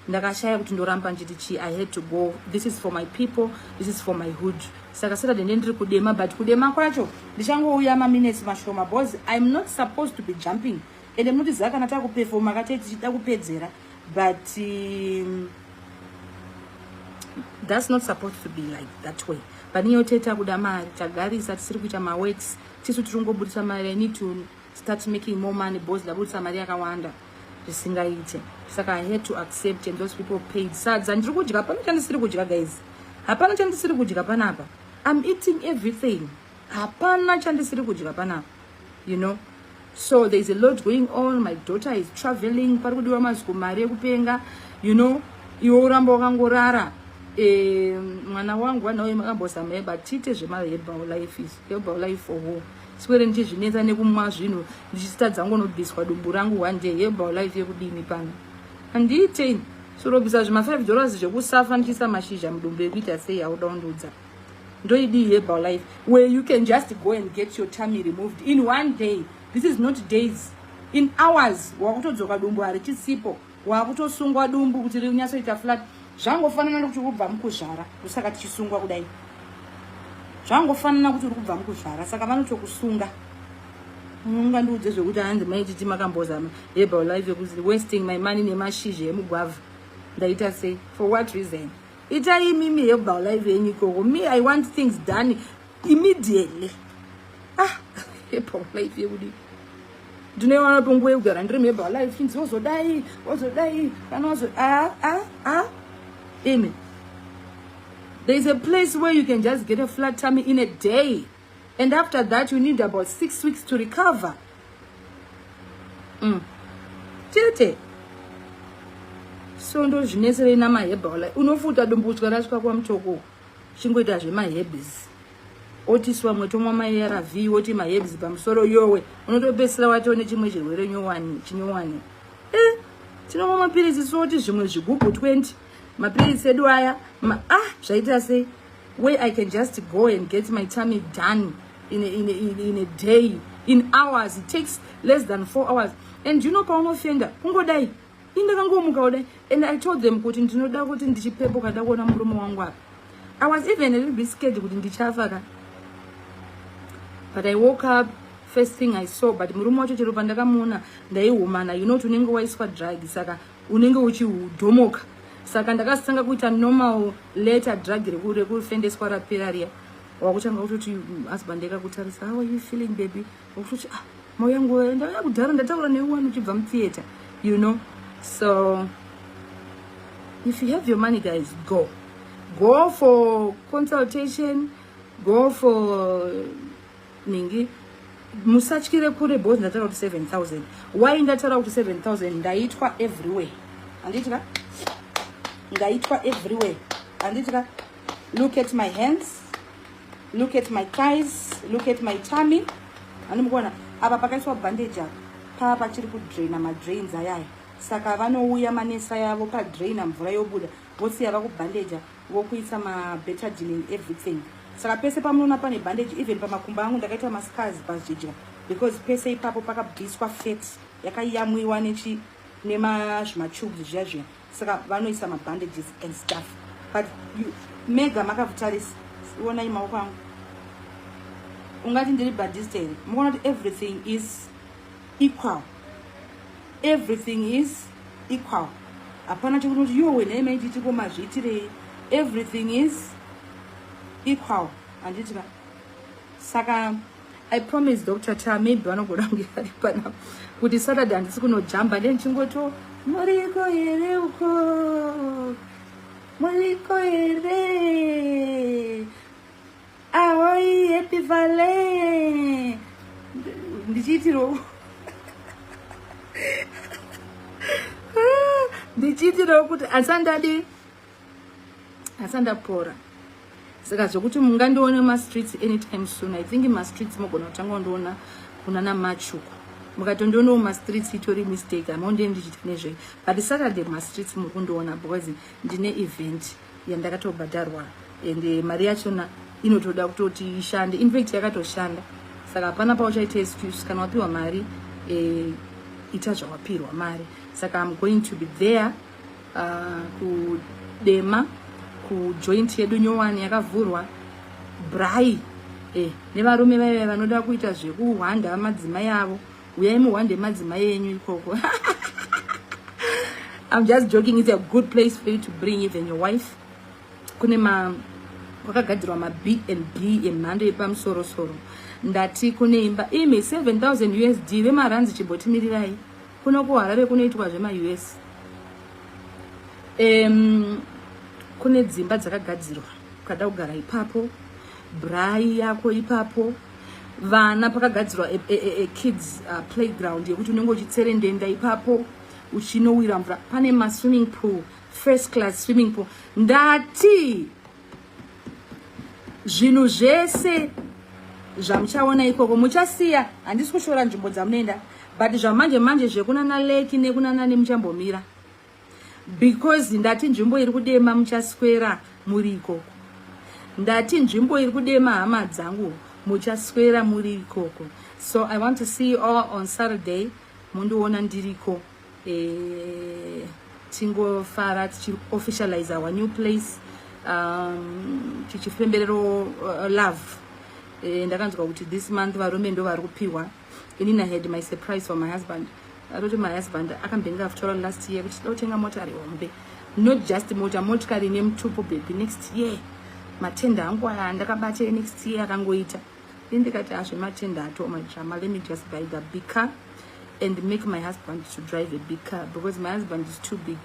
ndakashaya kuti ndoramba nditi chii i had to go this is for my people this is for my hood saka saturday nde ndiri kudema but kudema kwacho ndichangouya maminutes mashoma bcause iam not supposed to be jumping and mnotiziva kana takupefoma kate tichida kupedzera but um, that's not supposed to be like that way pane yote takuda mari tagarisa tisiri kuita maworks tisu tiri kungobudisa mari i need to start making more money because ndabudisa mari yakawanda zvisingaite saka i had to accept and those people paid sadza ndiri kudya hapana chandisiri kudya guys hapana chandisiri kudya panapa i'm eating everything hapana chandisiri kudya panapa you know so there's a lot going on my daughter is traveling pari kudiwa maziko mari yekupenga you know iwe uramba wakangorara eh, mwana wangu vanauye makambozama eba tiite zvemaherbal life is herbal life for wo sikwere ndichizvinetsa nekumwa zvinhu ndichitadza ngonobviswa dumbu rangu one day herbal life yekudini pano handiite sorobvisa zvima five dollars zvekusafa ndichiisa mashizha mudumbu ekuita sei auda undiudza ndoidii herbal life where you can just go and get your tummy removed in one day this is not days in hours wakutodzoka dumbu harichisipo wakutosungwa dumbu kuti rinyatsoita flat zvangofanana nokuti uri kubva mukuzvara ndosaka tichisungwa kudai zvangofanana kuti uri kubva mukuzvara saka vanotokusunga ungandiudze zvekuti hanzi maititi makambozama herbal life yekuti wasting my money nemashizha emugwavha ndaita sei for what reason Ita imimi hebal live yenyu ikoko. Me I want things done immediately. Ah, hebal live yekudii? Ndinoiwana tonguva yekugara ndiri mhebal live chinzi wozodai, wozodai, kana wazo ah ah ah. Imi. There is a place where you can just get a flat tummy in a day. and after that you need about six weeks to recover mm. tete so ndozvineserei namahebha wala unofuta dumbudzwa rasvika kwamutoko chingoita zvemahebs otiswa mwetomwa maarv woti mahebs pamusoro yowe unotopesira watiwo nechimwe chirwere nyowani chinyowani e eh, tinomwa mapiritsi soti zvimwe zvigubhu 20 mapiritsi edu aya ma, ah zvaita sei where I can just go and get my tummy done in a, in a, in a, in a day, in hours. It takes less than four hours. And you know paunofenda kungodai indakangomuka kudai and I told them kuti ndinoda kuti ndichipepo kada kuona murume wangu apa. I was even a little bit scared kuti ndichafa ka. But I woke up first thing I saw but murume wacho chero pandakamuona ndaihumana you know tunenge waiswa drug saka unenge uchidhomoka saka ndakasanga kuita normal letter drug rekufendeswa rapera riya wakutanga kutoti mm, husband ekakutarisa how are you feeling baby wakutoti ah mauya nguva ndauya kudhara ndataura newe wani uchibva mutheatre you know so if you have your money guys go go for consultation go for ningi musatyire kure both ndataura kuti 7000 why ndataura kuti 7000 ndaitwa everywhere handiti ka ndaitwa everywhere handiti ka look at my hands look at my thighs look at my tummy handimukuona apa pakaiswa bandage apa pava pachiri kudraina madrains ayaya saka vanouya manesa yavo padraina mvura yobuda vosiya vakubandeja vokuisa ma betadine in everything saka pese pamunoona pane bandage even pamakumba angu ndakaita mascars pazvidya because pese ipapo pakabviswa fet yakayamwiwa nechi nemazvimatubes zviya zviya saka vanoisa mabandages and stuff but you, mega makavhutarisa ionai maoko angu ungati ndiri badista here mukaona kuti everything is equal everything is equal hapana chekunoti yowe nhai maititi ko mazviitirei everything is equal handiti ka saka i promise dr ta maybe vanogona kunge vari pana kuti saturday handisi kunojamba nde ndichingoto muriko here uko muriko here Ahoi, happy valley. Ndichitiro. Ndichitiro kuti asandadi asandapora. Saka zvokuti mungandione ma streets anytime soon. I think ma streets mogona kutanga ndiona kuna na machuku. Mukatondiona ma streets itori mistake. Amonde ndichita nezve. But Saturday ma streets mukundiona because ndine event. yandakatobhadharwa and eh, mari yachona inotoda kutoti ishande infact yakatoshanda saka hapana pauchaita excuse kana wapiwa mari eh, ita zvawapirwa mari saka im going to be there uh, kudema kujoint yedu nyowani yakavhurwa brai eh, nevarume vaive vanoda kuita zvekuhwanda madzimai avo uyai muhwande madzimai enyu ikoko I'm just joking. It's a good place for you to bring even your wife. Kune ma kwakagadzirwa ma B and B emhando yepamusoro soro. Ndati kune imba imi 7000 USD vemaranzi chibhotimirirai. Kuno kuHarare kunoitwa zvema US. Um, kune dzimba dzakagadzirwa ukada kugara ipapo Braai yako ipapo vana pakagadzirwa a, a, a, a kids uh, playground yekuti unenge uchitserendenda ipapo uchinowira mvura pane maswimming pool first class swimming pool ndati zvinhu zvese zvamuchaona ikoko muchasiya handisi kushora nzvimbo dzamunoenda but zvamanje manje zvekunana leki nekunana nemuchambomira because ndati nzvimbo iri kudema muchaswera muri ikoko ndati nzvimbo iri kudema hama dzangu muchaswera muri ikoko so i want to see you all on saturday mundiona ndiriko eh, tingofara tichiofficialize our new place um, tichifemberero uh, love eh, ndakanzwa kuti this month varume ndo vari kupiwa Inini I had my surprise for my husband. Atoti my husband akambenge afutaura last year kuti totenga motari hombe. Not just mota, motikari ine mutupo baby next year. Matenda angu aya ndakabata next year akangoita. Ini ndikati azve matenda ato my drama. Let me just buy the big car and make my husband to drive a big car because my husband is too big.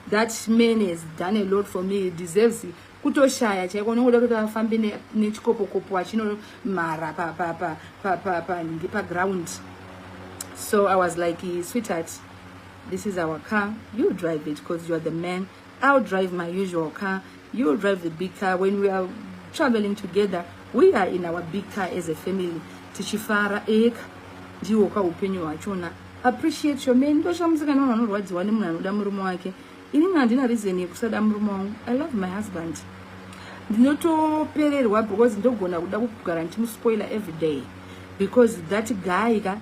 That man has done a lot for me. He deserves it. kutoshaya chaiko unenge uda kuti vafambe nechikopokopo achinomhara panhingi paground so i was like sweetheart this is our car you drive it because youare the man i'll drive my usual car youll drive the big car when we are traveling together we are in our big car as a family tichifara eka ndiwo ka upenyu hwachona appreciate your man ndoshamusikana vanhu vanorwadziwa nemunhu anoda murume wake inini handina reason yekusada murume wangu i love my husband ndinotopererwa because ndogona kuda kugara ndichimuspoiler every day because that guy ka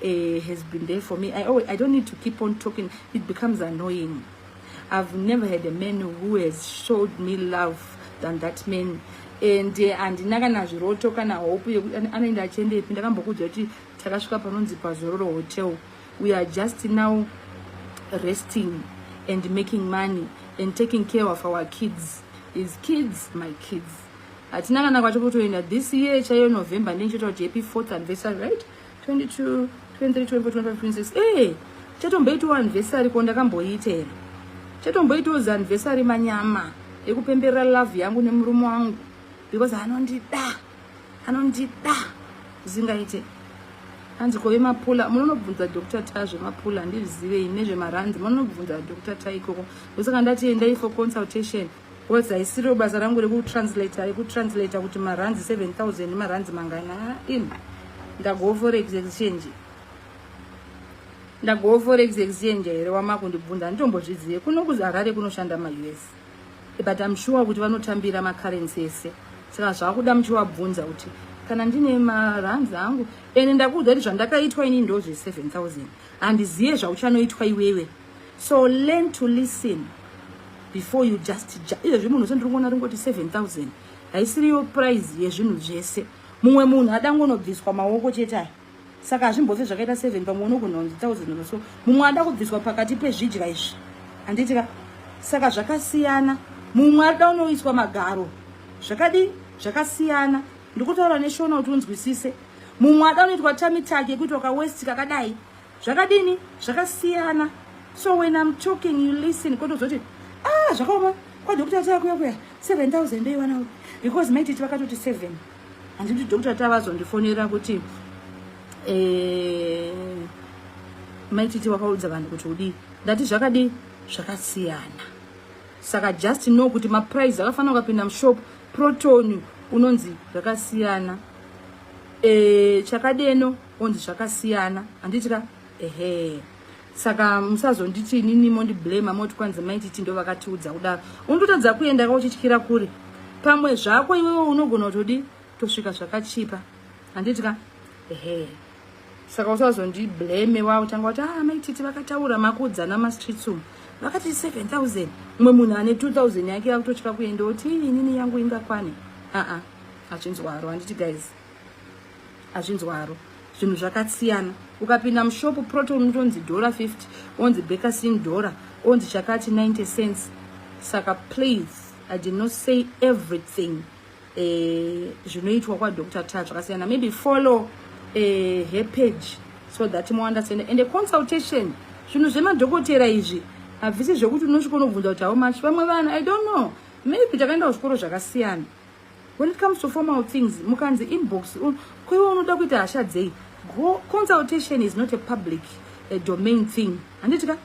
uh, has been there for me I, always, i don't need to keep on talking it becomes annoying i've never had a man who has showed me love than that man and eh, handina uh, kana zviroto kana hope anoenda achiendepi ndakambokuudza kuti takasvika panonzi pazororo hotel we are just now resting and making money and taking care of our kids is kids my kids hatina kana kwati kutoenda this year chaiyo november ndindichota kuti happy fourth anniversary right 22 23 24 25 26 ee chatomboitawo anniversary ko ndakamboiita here chatomboitawo zanniversary manyama ekupemberera love yangu nemurume wangu because anondida anondida zvingaite hanzi kove mapula munonobvunza dr ta zvemapula handizvizivei nezvemaranzi munonobvunza dr ta ikoko ndosaka ndati endai for consultation bcause haisiro basa rangu rekutranslata rekutranslata kuti maranzi 7000 nemaranzi mangana in ndagowo forex exchange ndagowo forex exchange here wamakundibvunza handitombozvizive kuno kuharare kunoshanda maus but I'm sure kuti vanotambira macurrency ese saka zvakuda muchivabvunza kuti kana ndine marands angu ende ndakuudza kuti zvandakaitwa ini ndozve 7000 handizive zvauchanoitwa iwewe so learn to listen before you just izvezvi munhu sendiriona ringoti 7000 haisiriyo prize yezvinhu zvese mumwe munhu adangonobviswa maoko chete aya saka hazvimbofe zvakaita seven pamwe unogona kunzi thousand or so mumwe ada kubviswa pakati pezvidya izvi handiti ka saka zvakasiyana mumwe ada unoiswa magaro zvakadii zvakasiyana ndikutaura neshona kuti unzwisise mumwe ada unoitwa tamitaki yekuti wakawesti kakadai zvakadini zvakasiyana so when im talking you listen kotozoti ah zvakaoma kwadokutatakuya kuya seven thousand eiwanawo because maititi vakatoti seven handiti doctor tavazondifonera kuti eh, maititi wakaudza vanhu kuti udii ndati zvakadii zvakasiyana saka just know kuti maprice akafanira ukapinda mushop proton unonzi zvakasiyana e, chakadeno onzi zvakasiyana handiti ka ehe saka musazonditi inini mondiblema moti kwanzi maititi ndo vakatiudza kudaro unototadza kuenda ka uchityira kuri pamwe zvako iwewe unogona kutodi tosvika zvakachipa handiti ka ehe saka usazondibleme wa utanga kuti ah maititi vakataura makuudzana mastreets umu vakati 7000 umwe munhu ane 2000 yake yakutotya kuenda kuti inini yangu ingakwane aa achinzwaro handiti guys azvinzwaro zvinhu zvakasiyana ukapinda mushopu proton unotonzi dhora 50 onzi bekasin dhora onzi chakati 90 cents saka please i did not say everything eh, zvinoitwa eh, kwadr ta zvakasiyana maybe follow eh, her page so that mounderstand and a consultation zvinhu zvemadhokotera izvi havisi zvekuti unosvika unobvunza kuti how much vamwe vanhu i don't know maybe takaenda kuzvikoro zvakasiyana when it comes to formal things mukanzi inbox un, koiwe unoda kuita hasha dzei go consultation is not a public a domain thing handiti ka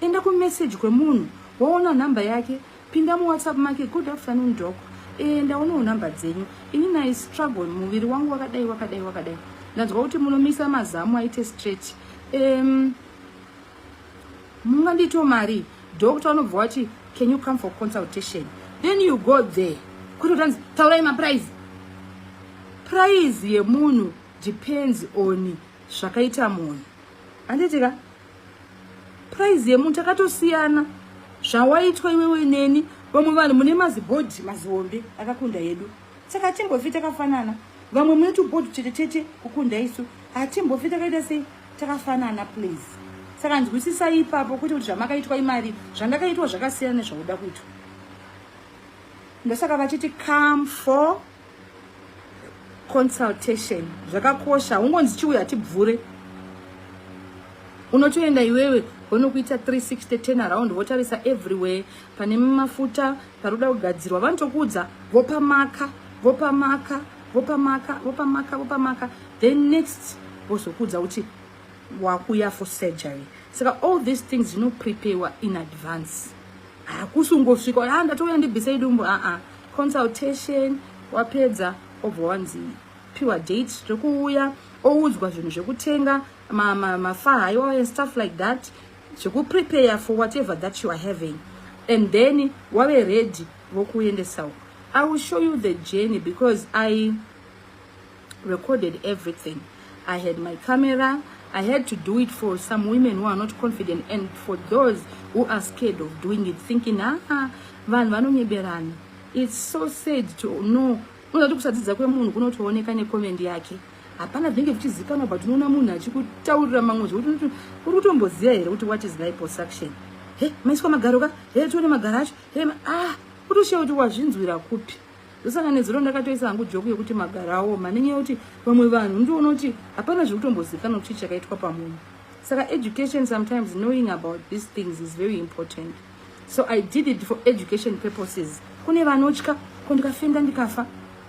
enda kumessage kwemunhu waona nhamba yake pinda muwhatsapp make good afternoon dok enda unowo nhamba dzenyu ini nai struggle muviri wangu wakadai wakadai wakadai ndanzwa kuti munomisa mazamu aite straight um, mungandito mari doctor unobva wati can you come for consultation then you go there kuti utanzi taurai maprize prize yemunhu depends on zvakaita munhu handitika prize yemunhu takatosiyana zvawaitwa iwewe neni vamwe vanhu mune mazibhodhi mazihombe akakunda yedu saka hatimbofi takafanana vamwe mune tubhodhi chete chete kukunda isu hatimbofi takaita sei takafanana please saka nzwisisai ipapo kuti kuti zvamakaitwa imari zvandakaitwa zvakasiyana nezvauda kuitwa ndosaka vachiti come for consultation zvakakosha ungonzi chiuya tibvure unotoenda iwewe vonokuita 360 ten around votarisa everywhere pane mafuta paroda kugadzirwa vanotokuudza vopamaka vopamaka vopamaka vopamaka vopamaka then next vozokuudza kuti wakuya for surgery saka all these things zvinopreparewa in advance hakusi ungosvika a ah, ndatouya ndibvisei dumbu aa ah, ah. consultation wapedza obva wanzi piwa date zvekuuya oudzwa zvinhu zvekutenga mafaha iwawo and stuff like that zvekuprepare for whatever that you are having and then wave ready vokuendesa uko i will show you the journey because i recorded everything i had my camera i had to do it for some women who are not confident and for those who are scared of doing it thinking aa ah, ah, vanhu vanonyeberana it's so sad to know unozati kusadzidza kwemunhu kunotooneka nekomendi yake hapana zvinenge zvichizikanwa but unoona munhu achikutaurira mamwe zvekuti uri kutomboziva here kuti what is liposuction he maiswa magaro ka he tione magaro acho then ah kutoshiya kuti wazvinzwira kupi ndosaka nezuro ndakatoisa hangu joku yekuti magarawo manenyaya yekuti vamwe vanhu ndiona kuti hapana zvekutombozivikanwa kuti chakaitwa pamunhu saka education sometimes knowing about these things is very important so i did it for education purposes kune vanotya ko ndikafenda ndikafa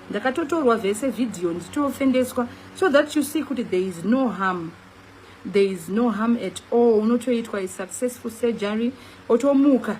ndakatotorwa vese vhidhiyo ndichitofendeswa so that you see kuti there is no harm there is no harm at all unotoitwa isuccessful surgery otomuka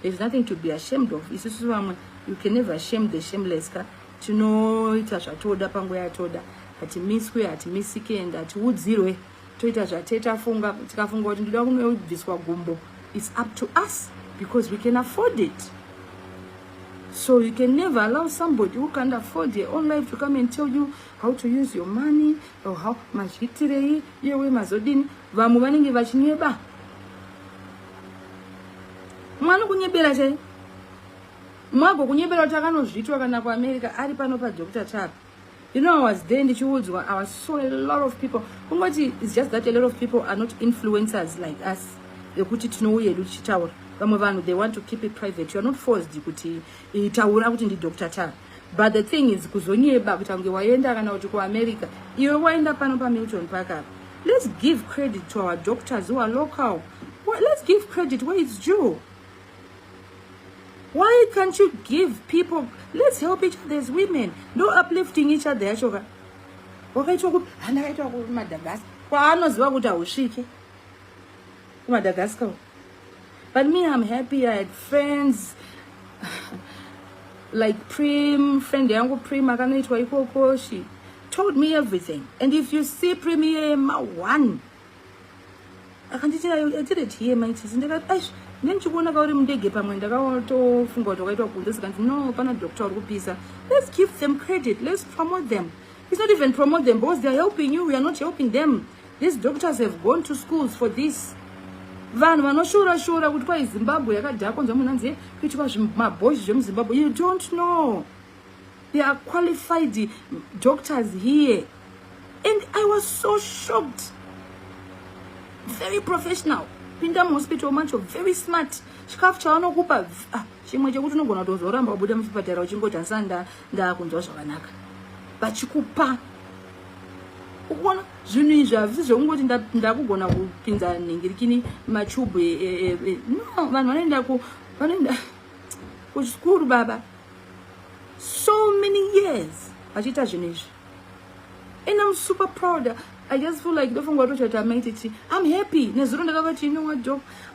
There's nothing to be ashamed of. Isusu vamwe, you can never shame the shameless ka. Tinoita zvatoda panguva yatoda. Hatimiswe, hatimisike and hatiudzirwe. Toita zvateta funga, tikafunga kuti ndoda kunobviswa gumbo. It's up to us because we can afford it. So you can never allow somebody who can't afford their own life to come and tell you how to use your money or how mazviitirei iyewe mazodini vamwe vanenge vachinyeba mwana kunyebera chai mwago kunyebera kuti akanozvitwa kana kuamerica ari pano padr chap you know i was there ndichiudzwa i was so a lot of people kungoti is just that a lot of people are not influencers like us vekuti tinouya edu tichitaura vamwe vanhu they want to keep it private youare not forced kuti itaura kuti ndidr chap but the thing is kuzonyeba kuti ange waenda kana kuti kuamerica iwe waenda pano pamilton park apa let's give credit to our doctors who are local well, let's give credit where it's due why can't you give people let's help each other as women no uplifting each other yacho ka wakaitwa kuti handakaitwa kumadagasi kwaanoziva kuti hausvike kuMadagascar but me I'm happy I had friends like Prim friend yangu Prim akanoitwa ikoko she told me everything and if you see Prim here ma one akanditi I did it here my chisi ndakati aish nendichikuona kauri mundege pamwe ndakatofunga kuti wakaitwa kunze sikanzi no pana doctor uri kupisa let's give them credit let's promote them it's not even promote them because they're helping you we are not helping them These doctors have gone to schools for this. Vanhu vanoshora shora kuti kwai Zimbabwe yakadhakwa kunzwa munhu anzi kuitwa mabhoys zvemuZimbabwe. You don't know. There are qualified doctors here. And I was so shocked. Very professional. Pinda muhospital macho very smart. Chikafu chawanokupa ah. chimwe chekuti unogona kutozoramba wabuda muchipatara uchingoti asanda ndaakunzwa zvakanaka vachikupa ukuona zvinhu izvi hazvisi zvekungoti ndakugona kupinza nhingirikini machubhu e, e, e, no vanhu vanoenda ku vanoenda kuchikuru baba so many years vachiita zvinhu izvi and im super proud i just feel like ndofunga kuti tamaititi im happy nezuro ndakavati inowa job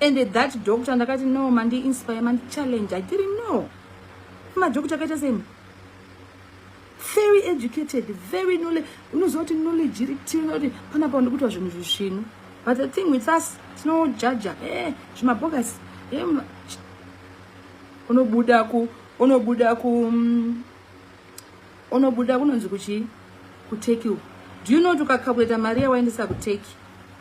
and that doctor ndakati no mandi inspire mandi challenge i didn't know madoctor akaita seni very educated very knowledge unoziva kuti knowledge iri tiona kuti panapa ndikutwa zvinhu zvisvinu but the thing with us tinojaja e eh, zvimabhokasi e eh, unobuda ku unobuda ku mm, unobuda kunonzi kuchii kuturkey uku do you know kuti ukakakuita mari yawaendesa kuturkey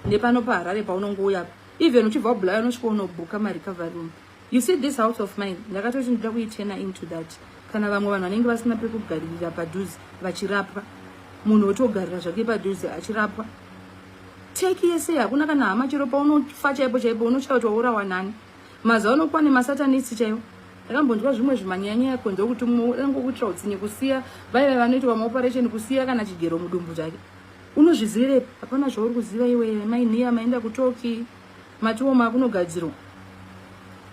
nepano paharare paunonge uyapo even uchibva kubulaya unosvika unobhuka marecovery room you see this house of mine ndakatoti ndida kuitena into that kana vamwe vanhu vanenge vasina pekugaririra padhuze vachirapwa munhu otogarira zvake padhuze achirapwa teki yese hakuna kana hama chero paunofa chaipo chaipo unochaya kuti waurawa nani Mazuva ano kwane masatanist chaiwo. Ndakambonzwa zvimwe zvimanyanya kunze kuti mumwe angokuitira utsinye kusiya vaive vanoitwa maoperation kusiya kana chigero mudumbu chake. Unozvizivirepi? Hapana zvauri kuziva iwe mai nhiya maenda kutoki matiwo makunogadzirwa.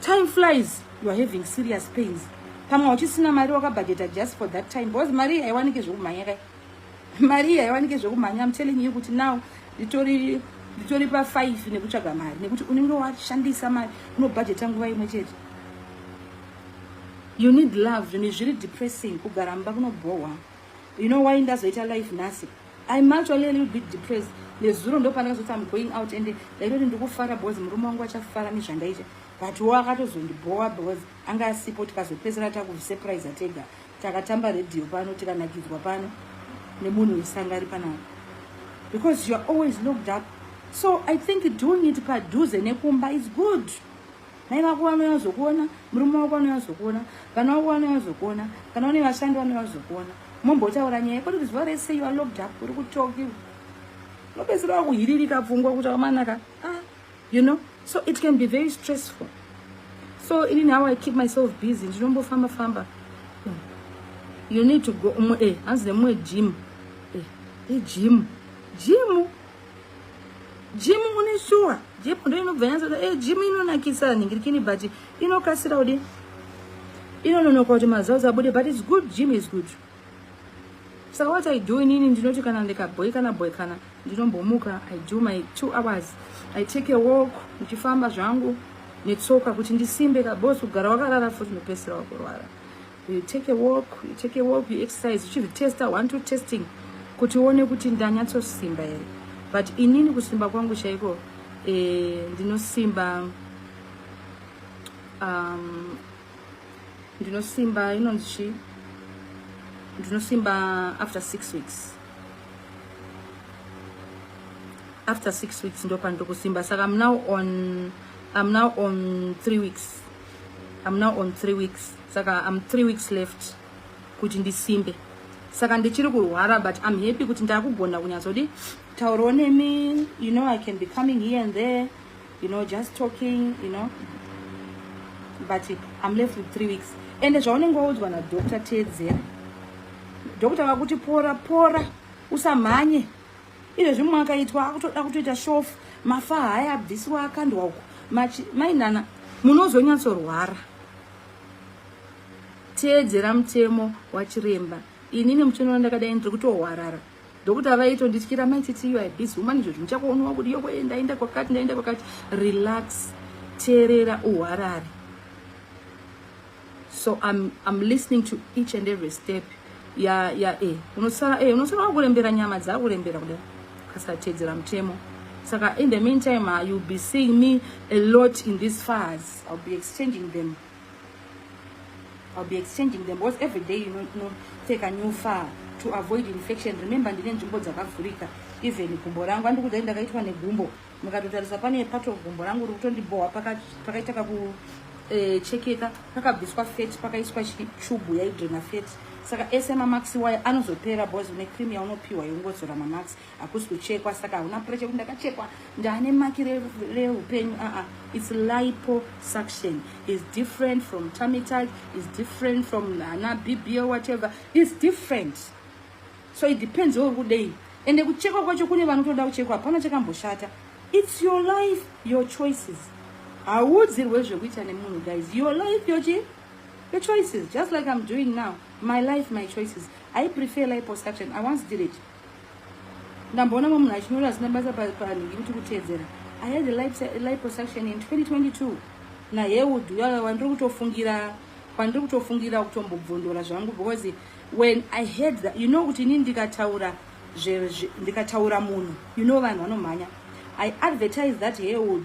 Time flies you are having serious pains. Pamwe uchisina mari wakabhajeta just for that time because mari haiwanike zvekumhanya kai. mari iya yawanike zvekumhanya am telling you kuti now nditori nditori pafive nekutsvaga mari nekuti unenge washandisa mari unobhajeta nguva imwe chete you need love zvinhu zviri depressing kugara mba kunobhohwa you know why ndazoita life nhasi im actually a little bit depressed nezuro ndopanakazoti am going out ende ndaitoti ndikufara because murume wangu achafara nezvandaita but wo akatozondibhowa because anga asipo tikazopedzera takusurprise tega takatamba radio pano tikanakidzwa pano nemunhu wesanga ari panapa because youare always looked up so i think doing it padhuze nekumba is good mai vako vanouya zokuona murume wako vanouya zokuona vana wako vanouya zokuona kana une vashandi vanouya zokuona mombotaura nyaya koti kuziva rese youare locked up uri kutoki unopedzisira wakuhiririka pfungwa kuti amanaka ah, you know so it can be very stressful so ini now i keep myself busy ndinombofamba famba hmm. you need to go umwe eh hanzi nemumwe gym eh igym gym gym une shuwa gym ndo inobva yanzi eh gym inonakisa nhingirikini but inokasira kudi inononoka kuti mazazi abude but its good gym is good so what i do inini ndinoti kana ndikabhoikana bhoikana ndinombomuka i do my two hours i take a walk ndichifamba zvangu netsoka kuti ndisimbe kabos kugara wakarara futi unopedzisira wakurwara you take a walk you take a walk you exercise uchizvitesta one two testing kuti uone kuti ndanyatsosimba here but inini kusimba kwangu chaiko eh, ndinosimba um, ndinosimba inonzi chii ndinosimba after six weeks after six weeks ndopandikusimba saka am now on am now on three weeks am now on three weeks saka am three weeks left kuti ndisimbe saka ndichiri kurwara but am happy kuti ndakugona kunyatsodi taurawo nemi you know i can be coming here and there you know just talking you know but i'm left with three weeks ende zvaunenge waudzwa nadoctor teedzera doctor vakuti pora pora usamhanye izvo zvimwe akaitwa akutoda kutoita shofu mafa haya abvisiwa akandwa uko mainana munozonyatsorwara teedzera mutemo wachiremba inini muchinoona ndakadai ndiri kutohwarara ndokuti avaitondityira mai titi you are busy woman izvozvi muchakuonowa kuti yoko ndaenda kwakati ndaenda kwakati relax teerera uharare so I'm, I'm listening to each and every step ya ya e unosara e unosara wakurembera nyama dzakurembera kudai kasatedzera mutemo saka in the meantime uh, you'll be seeing me a lot in these fars i'll be exchanging them I'll be exchanging them because every day you know, you know, take a new far to avoid infection remember ndine nzvimbo dzakavhurika even gumbo rangu andi kudai ndakaitwa negumbo mukatotarisa pane pato gumbo rangu riri kutondibhohwa pakaita kakuchekeka eh, pakabviswa fet pakaiswa chubu yaidrena fet saka ese mamax waya anozopera bos une cream yaunopiwa yeungozora mamax hakusi kuchekwa saka hauna pressure kuti ndakachekwa ndaane maki reupenyu aa ah, ah. its lipo suction is different from tamital is different from ana bbo whatever is different so it depends weuri kudei ende kuchekwa kwacho kune vanotoda kuchekwa hapana chakamboshata its your life your choices hauudzirwe zvekuita nemunhu guys your life yochi your choices just like i'm doing now my life my choices i prefer lipo suction i once did it ndamboona mwe munhu achinyora asina basa panhu ikuti kutedzera i had life prosection in 2022 naheud uya wandiri kutofungira kwandiri kutofungira kutombobvondora zvangu because when i heard that you know kuti ini ndikataura ndikataura munhu you know vanhu vanomhanya i advertise that heud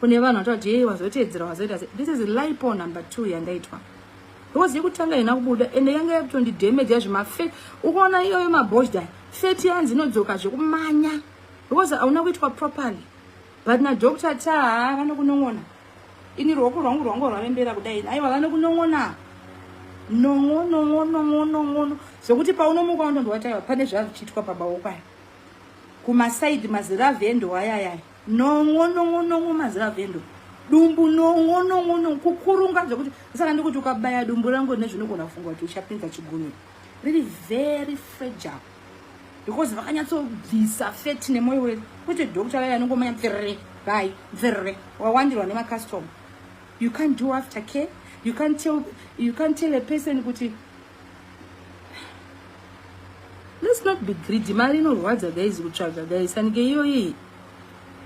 kune vanhu vati vati yei wazoteedzera wazoita se this is lipo number two yandaitwa because yekutanga ina kubuda ende yanga yakutondidhemeja zvemafet ukaona iyoyo mabosda feti yanzi inodzoka zvekumanya because hauna kuitwa properly but nadoctor taa vanokunon'ona ini ruoko rwangu rwangu rwarembera kudai aiwa vanokunon'ona nongonongonongonongono zvekuti paunomuka unondondowataiwa pane zvazvichiitwa pabawokwayo kumasaidi maziravi endoayayaya Nongo nongo nongo maziva vendo. Dumbu nongo nongo nongo kukurunga zvekuti saka ndikuti ukabaya dumbu rangu nezvinogona kufunga kuti uchapinza chigunwe. Really very fragile. Because vakanyatsobvisa fat nemoyo wedu. Kuti doctor vaya anongomanya pfirre bye pfirre wawandirwa nema customer. You can't do after care. You can't tell you can't tell a person kuti let's not be greedy mari inorwadza guys kutsvaga guys sanike iyoyi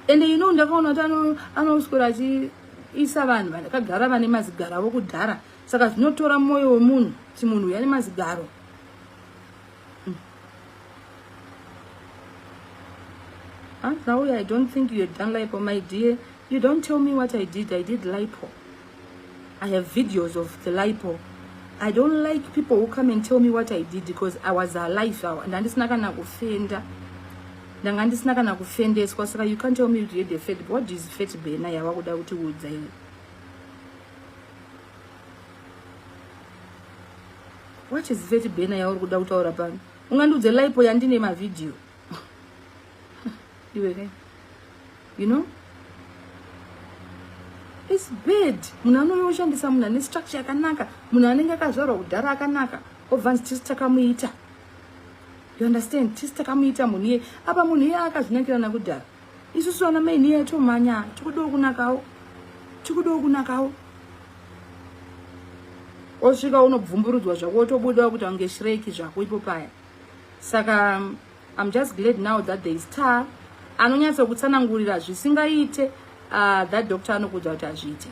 ende you know ndakaona kuti anoswera achiisa vanhu vakagara vane mazigaro avo kudhara saka zvinotora mwoyo wemunhu kuti munhu uyu ane mazigaro hmm. ah, Zawi, I don't think you had done lipo, my dear. You don't tell me what I did. I did lipo. I have videos of the lipo. I don't like people who come and tell me what I did because I was alive. Ndandisina kana kufenda. Ndanga ndisina kana kufendeswa saka you can't tell me you did a fat. What is fat bena yawa kuda kuti udza iwe? What is fat bena yawa kuda kutaura pano? Ungandiudze lipo yandine mavideo. iwe you know is bad munhu anouya oshandisa munhu ane structure yakanaka munhu anenge akazvarwa kudhara akanaka obvanzi tisi takamuita you understand tisi takamuita munhu iye apa munhu iye akazvinakirana kudhara isusu vana maini iye tomhanya tikudiwo kunakawo tikudiwo kunakawo osvika unobvumburudzwa zvako wotobudawo kuti ange shreki zvako ipo paya saka I'm just glad now that there is tar anonyatso kutsanangurira zvisingaite uh, that doctor anokuudza kuti hazviite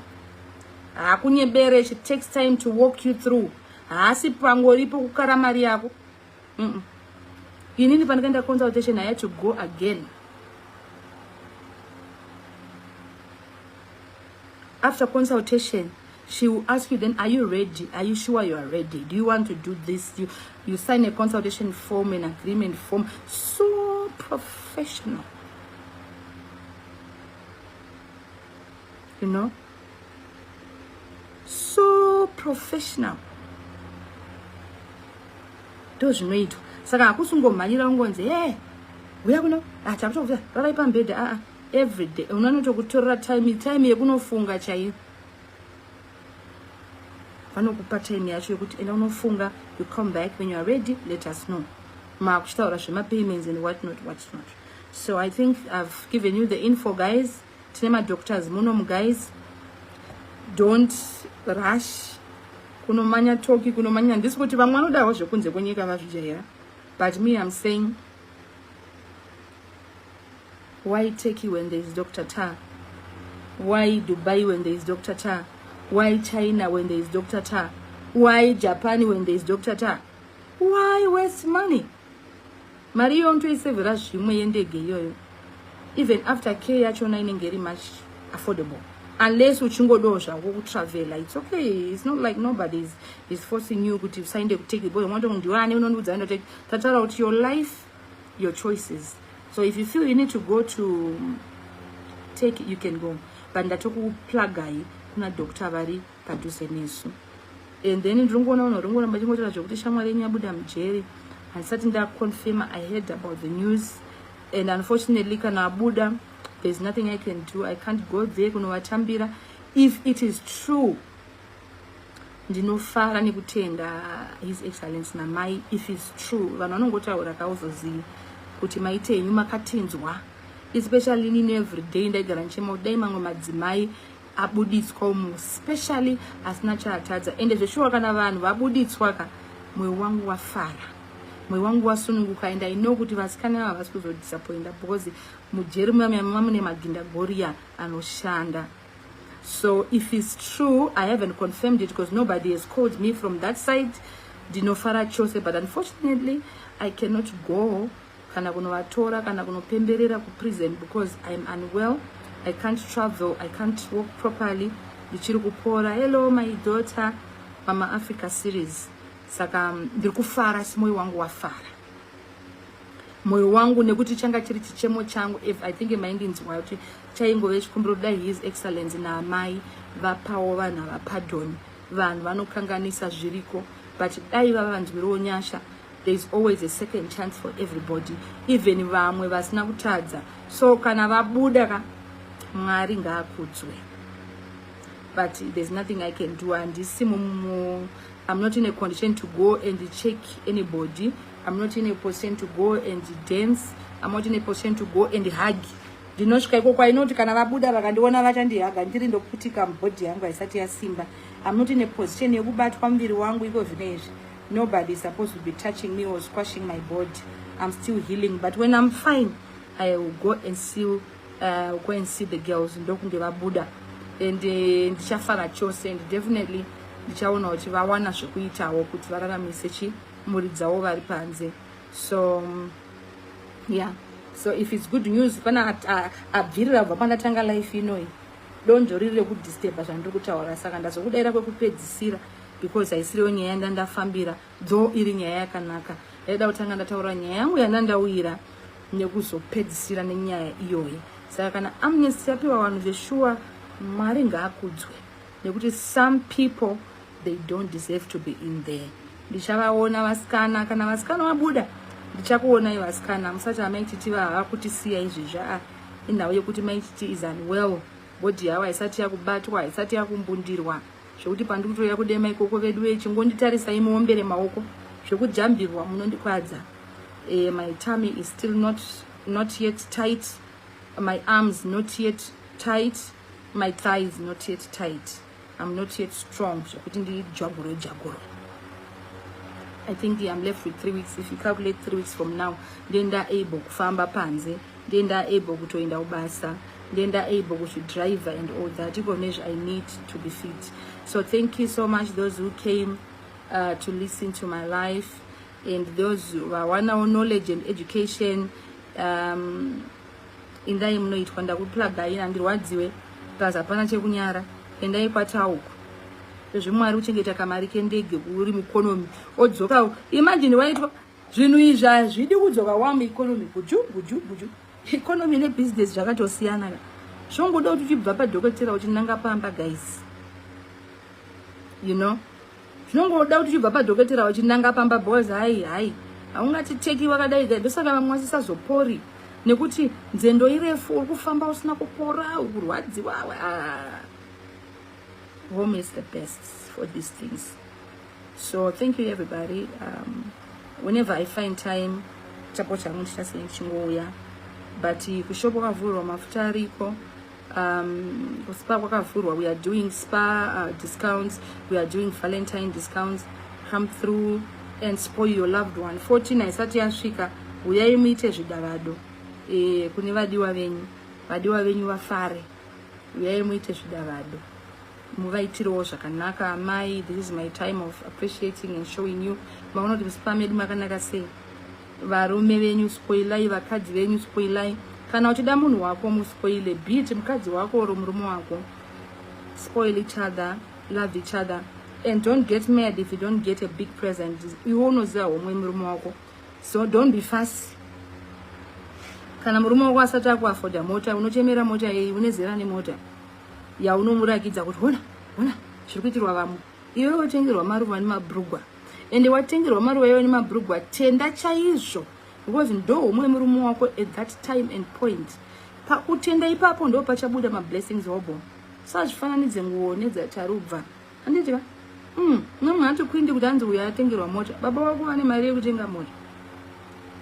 haakunyebere it takes time to walk you through haasi pangoripo kukara mari yako mm -mm. inini pandikaenda consultation i had to go again after consultation She will ask you then, are you ready? Are you sure you are ready? Do you want to do this? You, you sign a consultation form, an agreement form. So professional. You know? So professional. Those zvinoitwa saka hakusi ungomhanyira ungonzi e huya kuno ah, takutokuta rarai pambhedha aa ah, ah, everyday unanotokutorera time time yekunofunga chaiyo vanokupa time yacho yekuti enda unofunga you come back when you are ready let us know maakuchitaura zvemapayments and what not what not so i think i've given you the info guys tine madoctors munomu guys don't rush kunomanya toki kunomanya handisi kuti vamwe vanodawo zvekunze kwenyika vazvijaira but me am saying Why Turkey when there is Dr. Ta? Why Dubai when there is Dr. Ta? Why China when there is Dr. Ta? Why Japan when there is Dr. Ta? Why waste money? Mari iyo ntoisevera zvimwe yendege iyoyo. Even after care yachona inenge iri much affordable. Unless uchingodawo zvako kutravela. It's okay. It's not like nobody is, is forcing you kuti usaende kuteki. Boyo mwato ndiwane unondiudza ndoteki. Tataura kuti your life your choices so if you feel you need to go to um, take you can go but ndatokuplagai kuna doctor vari padhuze nesu and then ndinongoona vanhu ringoona vachingotaura zvekuti shamwari yenyu yabuda mujeri handisati ndaconfirma i heard about the news and unfortunately kana abuda there's nothing i can do i can't go there kunovatambira if it is true ndinofara nekutenda his excellence namai if is true vanhu vanongotaura kauzozivi kuti maite henyu makatinzwa especially nini everyday ndaigara ndichema kuti dai mamwe madzimai abuditswa umu specially asina chaatadza ende zveshuwa kana vanhu vabuditswa ka mwoyo wangu wafara mwoyo wangu wasununguka and i know kuti vasikana ava havasi kuzodisappointa because mujeri muyamuyamima mune maginda goriya anoshanda So if it's true, I haven't confirmed it because nobody has called me from that side. Dinofara chose, but unfortunately, I cannot go kana kunovatora kana kunopemberera kuprison because I'm unwell. I can't travel, I can't walk properly. Ndichiri kupora. Hello my daughter, Mama Africa series. Saka um, ndiri kufara, simoyo wangu wafara. moyo wangu nekuti changa chiri chichemo changu if i think maindinzwa kuti chaingove chikumbiro kudai his excellence naamai vapawo vanhu ava pardon vanhu vanokanganisa zviriko but dai vava vanzwirewo nyasha there is always a second chance for everybody even vamwe vasina kutadza so kana vabuda ka mwari ngaakudzwe but there's nothing i can do handisi mumu i'm not in a condition to go and check anybody I'm not in a position to go and dance. I'm not in a position to go and hug. Ndinosvika ikoko I know kuti kana vabuda vakandiona vachandihaga ndiri ndokutika mubhodhi yangu haisati yasimba. I'm not in a position yekubatwa muviri wangu iko zvine izvi. Nobody is supposed to be touching me or squashing my body. I'm still healing but when I'm fine I will go and see uh, go and see the girls ndokunge vabuda and eh, ndichafara uh, chose and definitely ndichaona kuti vawana zvekuitawo kuti vararamise chi mhuri dzawo vari panze so yeah so if its good news pana abvirira kubva pandatanga life inoyi donzvo riri rekudisturba zvandiri kutaura saka ndazokudaira kwekupedzisira because haisiriwo nyaya yanda ndafambira though iri nyaya yakanaka yaida kutanga ndataura nyaya yangu yanda ndauyira nekuzopedzisira nenyaya iyoyi saka kana amnesty yapiwa vanhu zveshuwa mwari ngaakudzwe nekuti some people they don't deserve to be in there ndichavaona vasikana kana vasikana vabuda ndichakuonai vasikana musati amaichitiva hava kutisiya izvezvi a inhau yekuti maichiti is unwell bhodhi yavo haisati yakubatwa haisati yakumbundirwa zvekuti pandiri kutoya kudema ikoko vedu vee chingonditarisai muombere maoko zvekujambirwa munondikwadza e, my tummy is still not, not yet tight my arms not yet tight my thigh is not yet tight i'm not yet strong zvekuti ndijagure jaguro i think i'm left with three weeks if you calculate three weeks from now ndiye ndaable kufamba panze ndiye ndaable kutoenda kubasa ndiye ndaable kuzvidriver and all that iko nezve i need to be fit so thank you so much those who came uh, to listen to my life and those who are one our knowledge and education um, Indai munoitwa ndakuplagai handirwadziwe plus hapana chekunyara endai kwatauku zvezvimwari kuchengeta kamari kendege kuri mueconomy odzoka imagine waitwa zvinhu izvi hazvidi kudzoka wamu economy guju guju guju economy nebusiness zvakatosiyana ka zvongoda kuti uchibva padhokotera uchinanga pamba guys you know zvinongoda kuti uchibva padhokotera wachinanga pamba boys hai hai haungatiteki wakadai ka ndosaka vamwe vasisazopori nekuti nzendo irefu uri kufamba usina kupora uri kurwadziwa ah. home is the best for these things so thank you everybody um, whenever i find time chapo changu ndichasei chingouya but kushopo kavhurwa mafuta ariko um, spa kwakavhurwa we are doing spa uh, discounts we are doing valentine discounts come through and spoil your loved one 14 haisati yasvika huyai muite zvidavado e, kune vadiwa venyu vadiwa venyu vafare uyai muite zvidavado muvaitirewo zvakanaka amai this is my time of appreciating and showing you maona kuti musipa medu makanaka sei varume venyu spoilai vakadzi venyu spoilai kana uchida munhu wako muspoile beat mukadzi wako or murume wako spoil each other love each other and don't get mad if you don't get a big present iwe unoziva homwe murume wako so don't be fast kana murume wako asati akuafoda mota unochemera mota yei une zera nemota yaunomurakidza kuti hona hona zviri kuitirwa vamwe iwe watengerwa maruva nemabrugwa ende watengerwa maruva iwe nemabrugwa tenda chaizvo because ndo umwe murume wako at that time and point pakutenda ipapo ndo pachabuda mablessings hobo sazvifananidze nguwo nedzatarubva anditya mm, mamwe hatokuindi kuti anzi uyo atengerwa mota baba wako vane mari yekutenga mota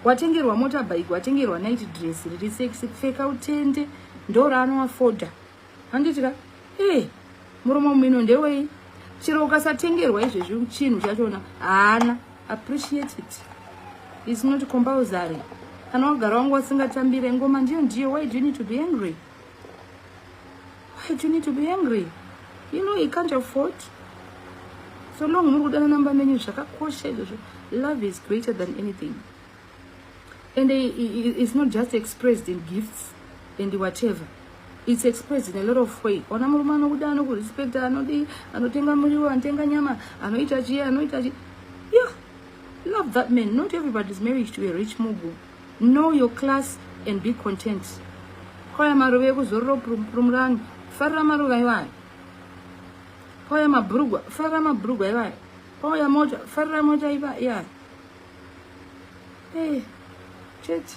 watengerwa mota bike watengerwa night dress riri sexy pfeka utende ndo raanoafoda handiti ka e muromo mumino ndewei chero ukasatengerwa izvezvi chinhu chachona haana appreciate it is not compulsory kana wagara wangu wasingatambire ngoma ndiyo ndiyo why do you need to be angry why do you need to be angry you know he can't afford so long muri kudanana mba menyu zvakakosha izvozvo love is greater than anything And it's not just expressed in gifts and whatever. It's expressed in a lot of way. Ona murume anokuda anokurespecta anodi anotenga muriwo anotenga nyama anoita chiye anoita chi yeah. Love that man. Not everybody is married to a rich mugu. Know your class and be content. Kwaya maruva ekuzorora purumurani. Farira maruva iwayo. Kwaya mabrugwa. Farira mabrugwa iwayo. Oh ya moja, farira moja iba, yeah. Hey, eh, church.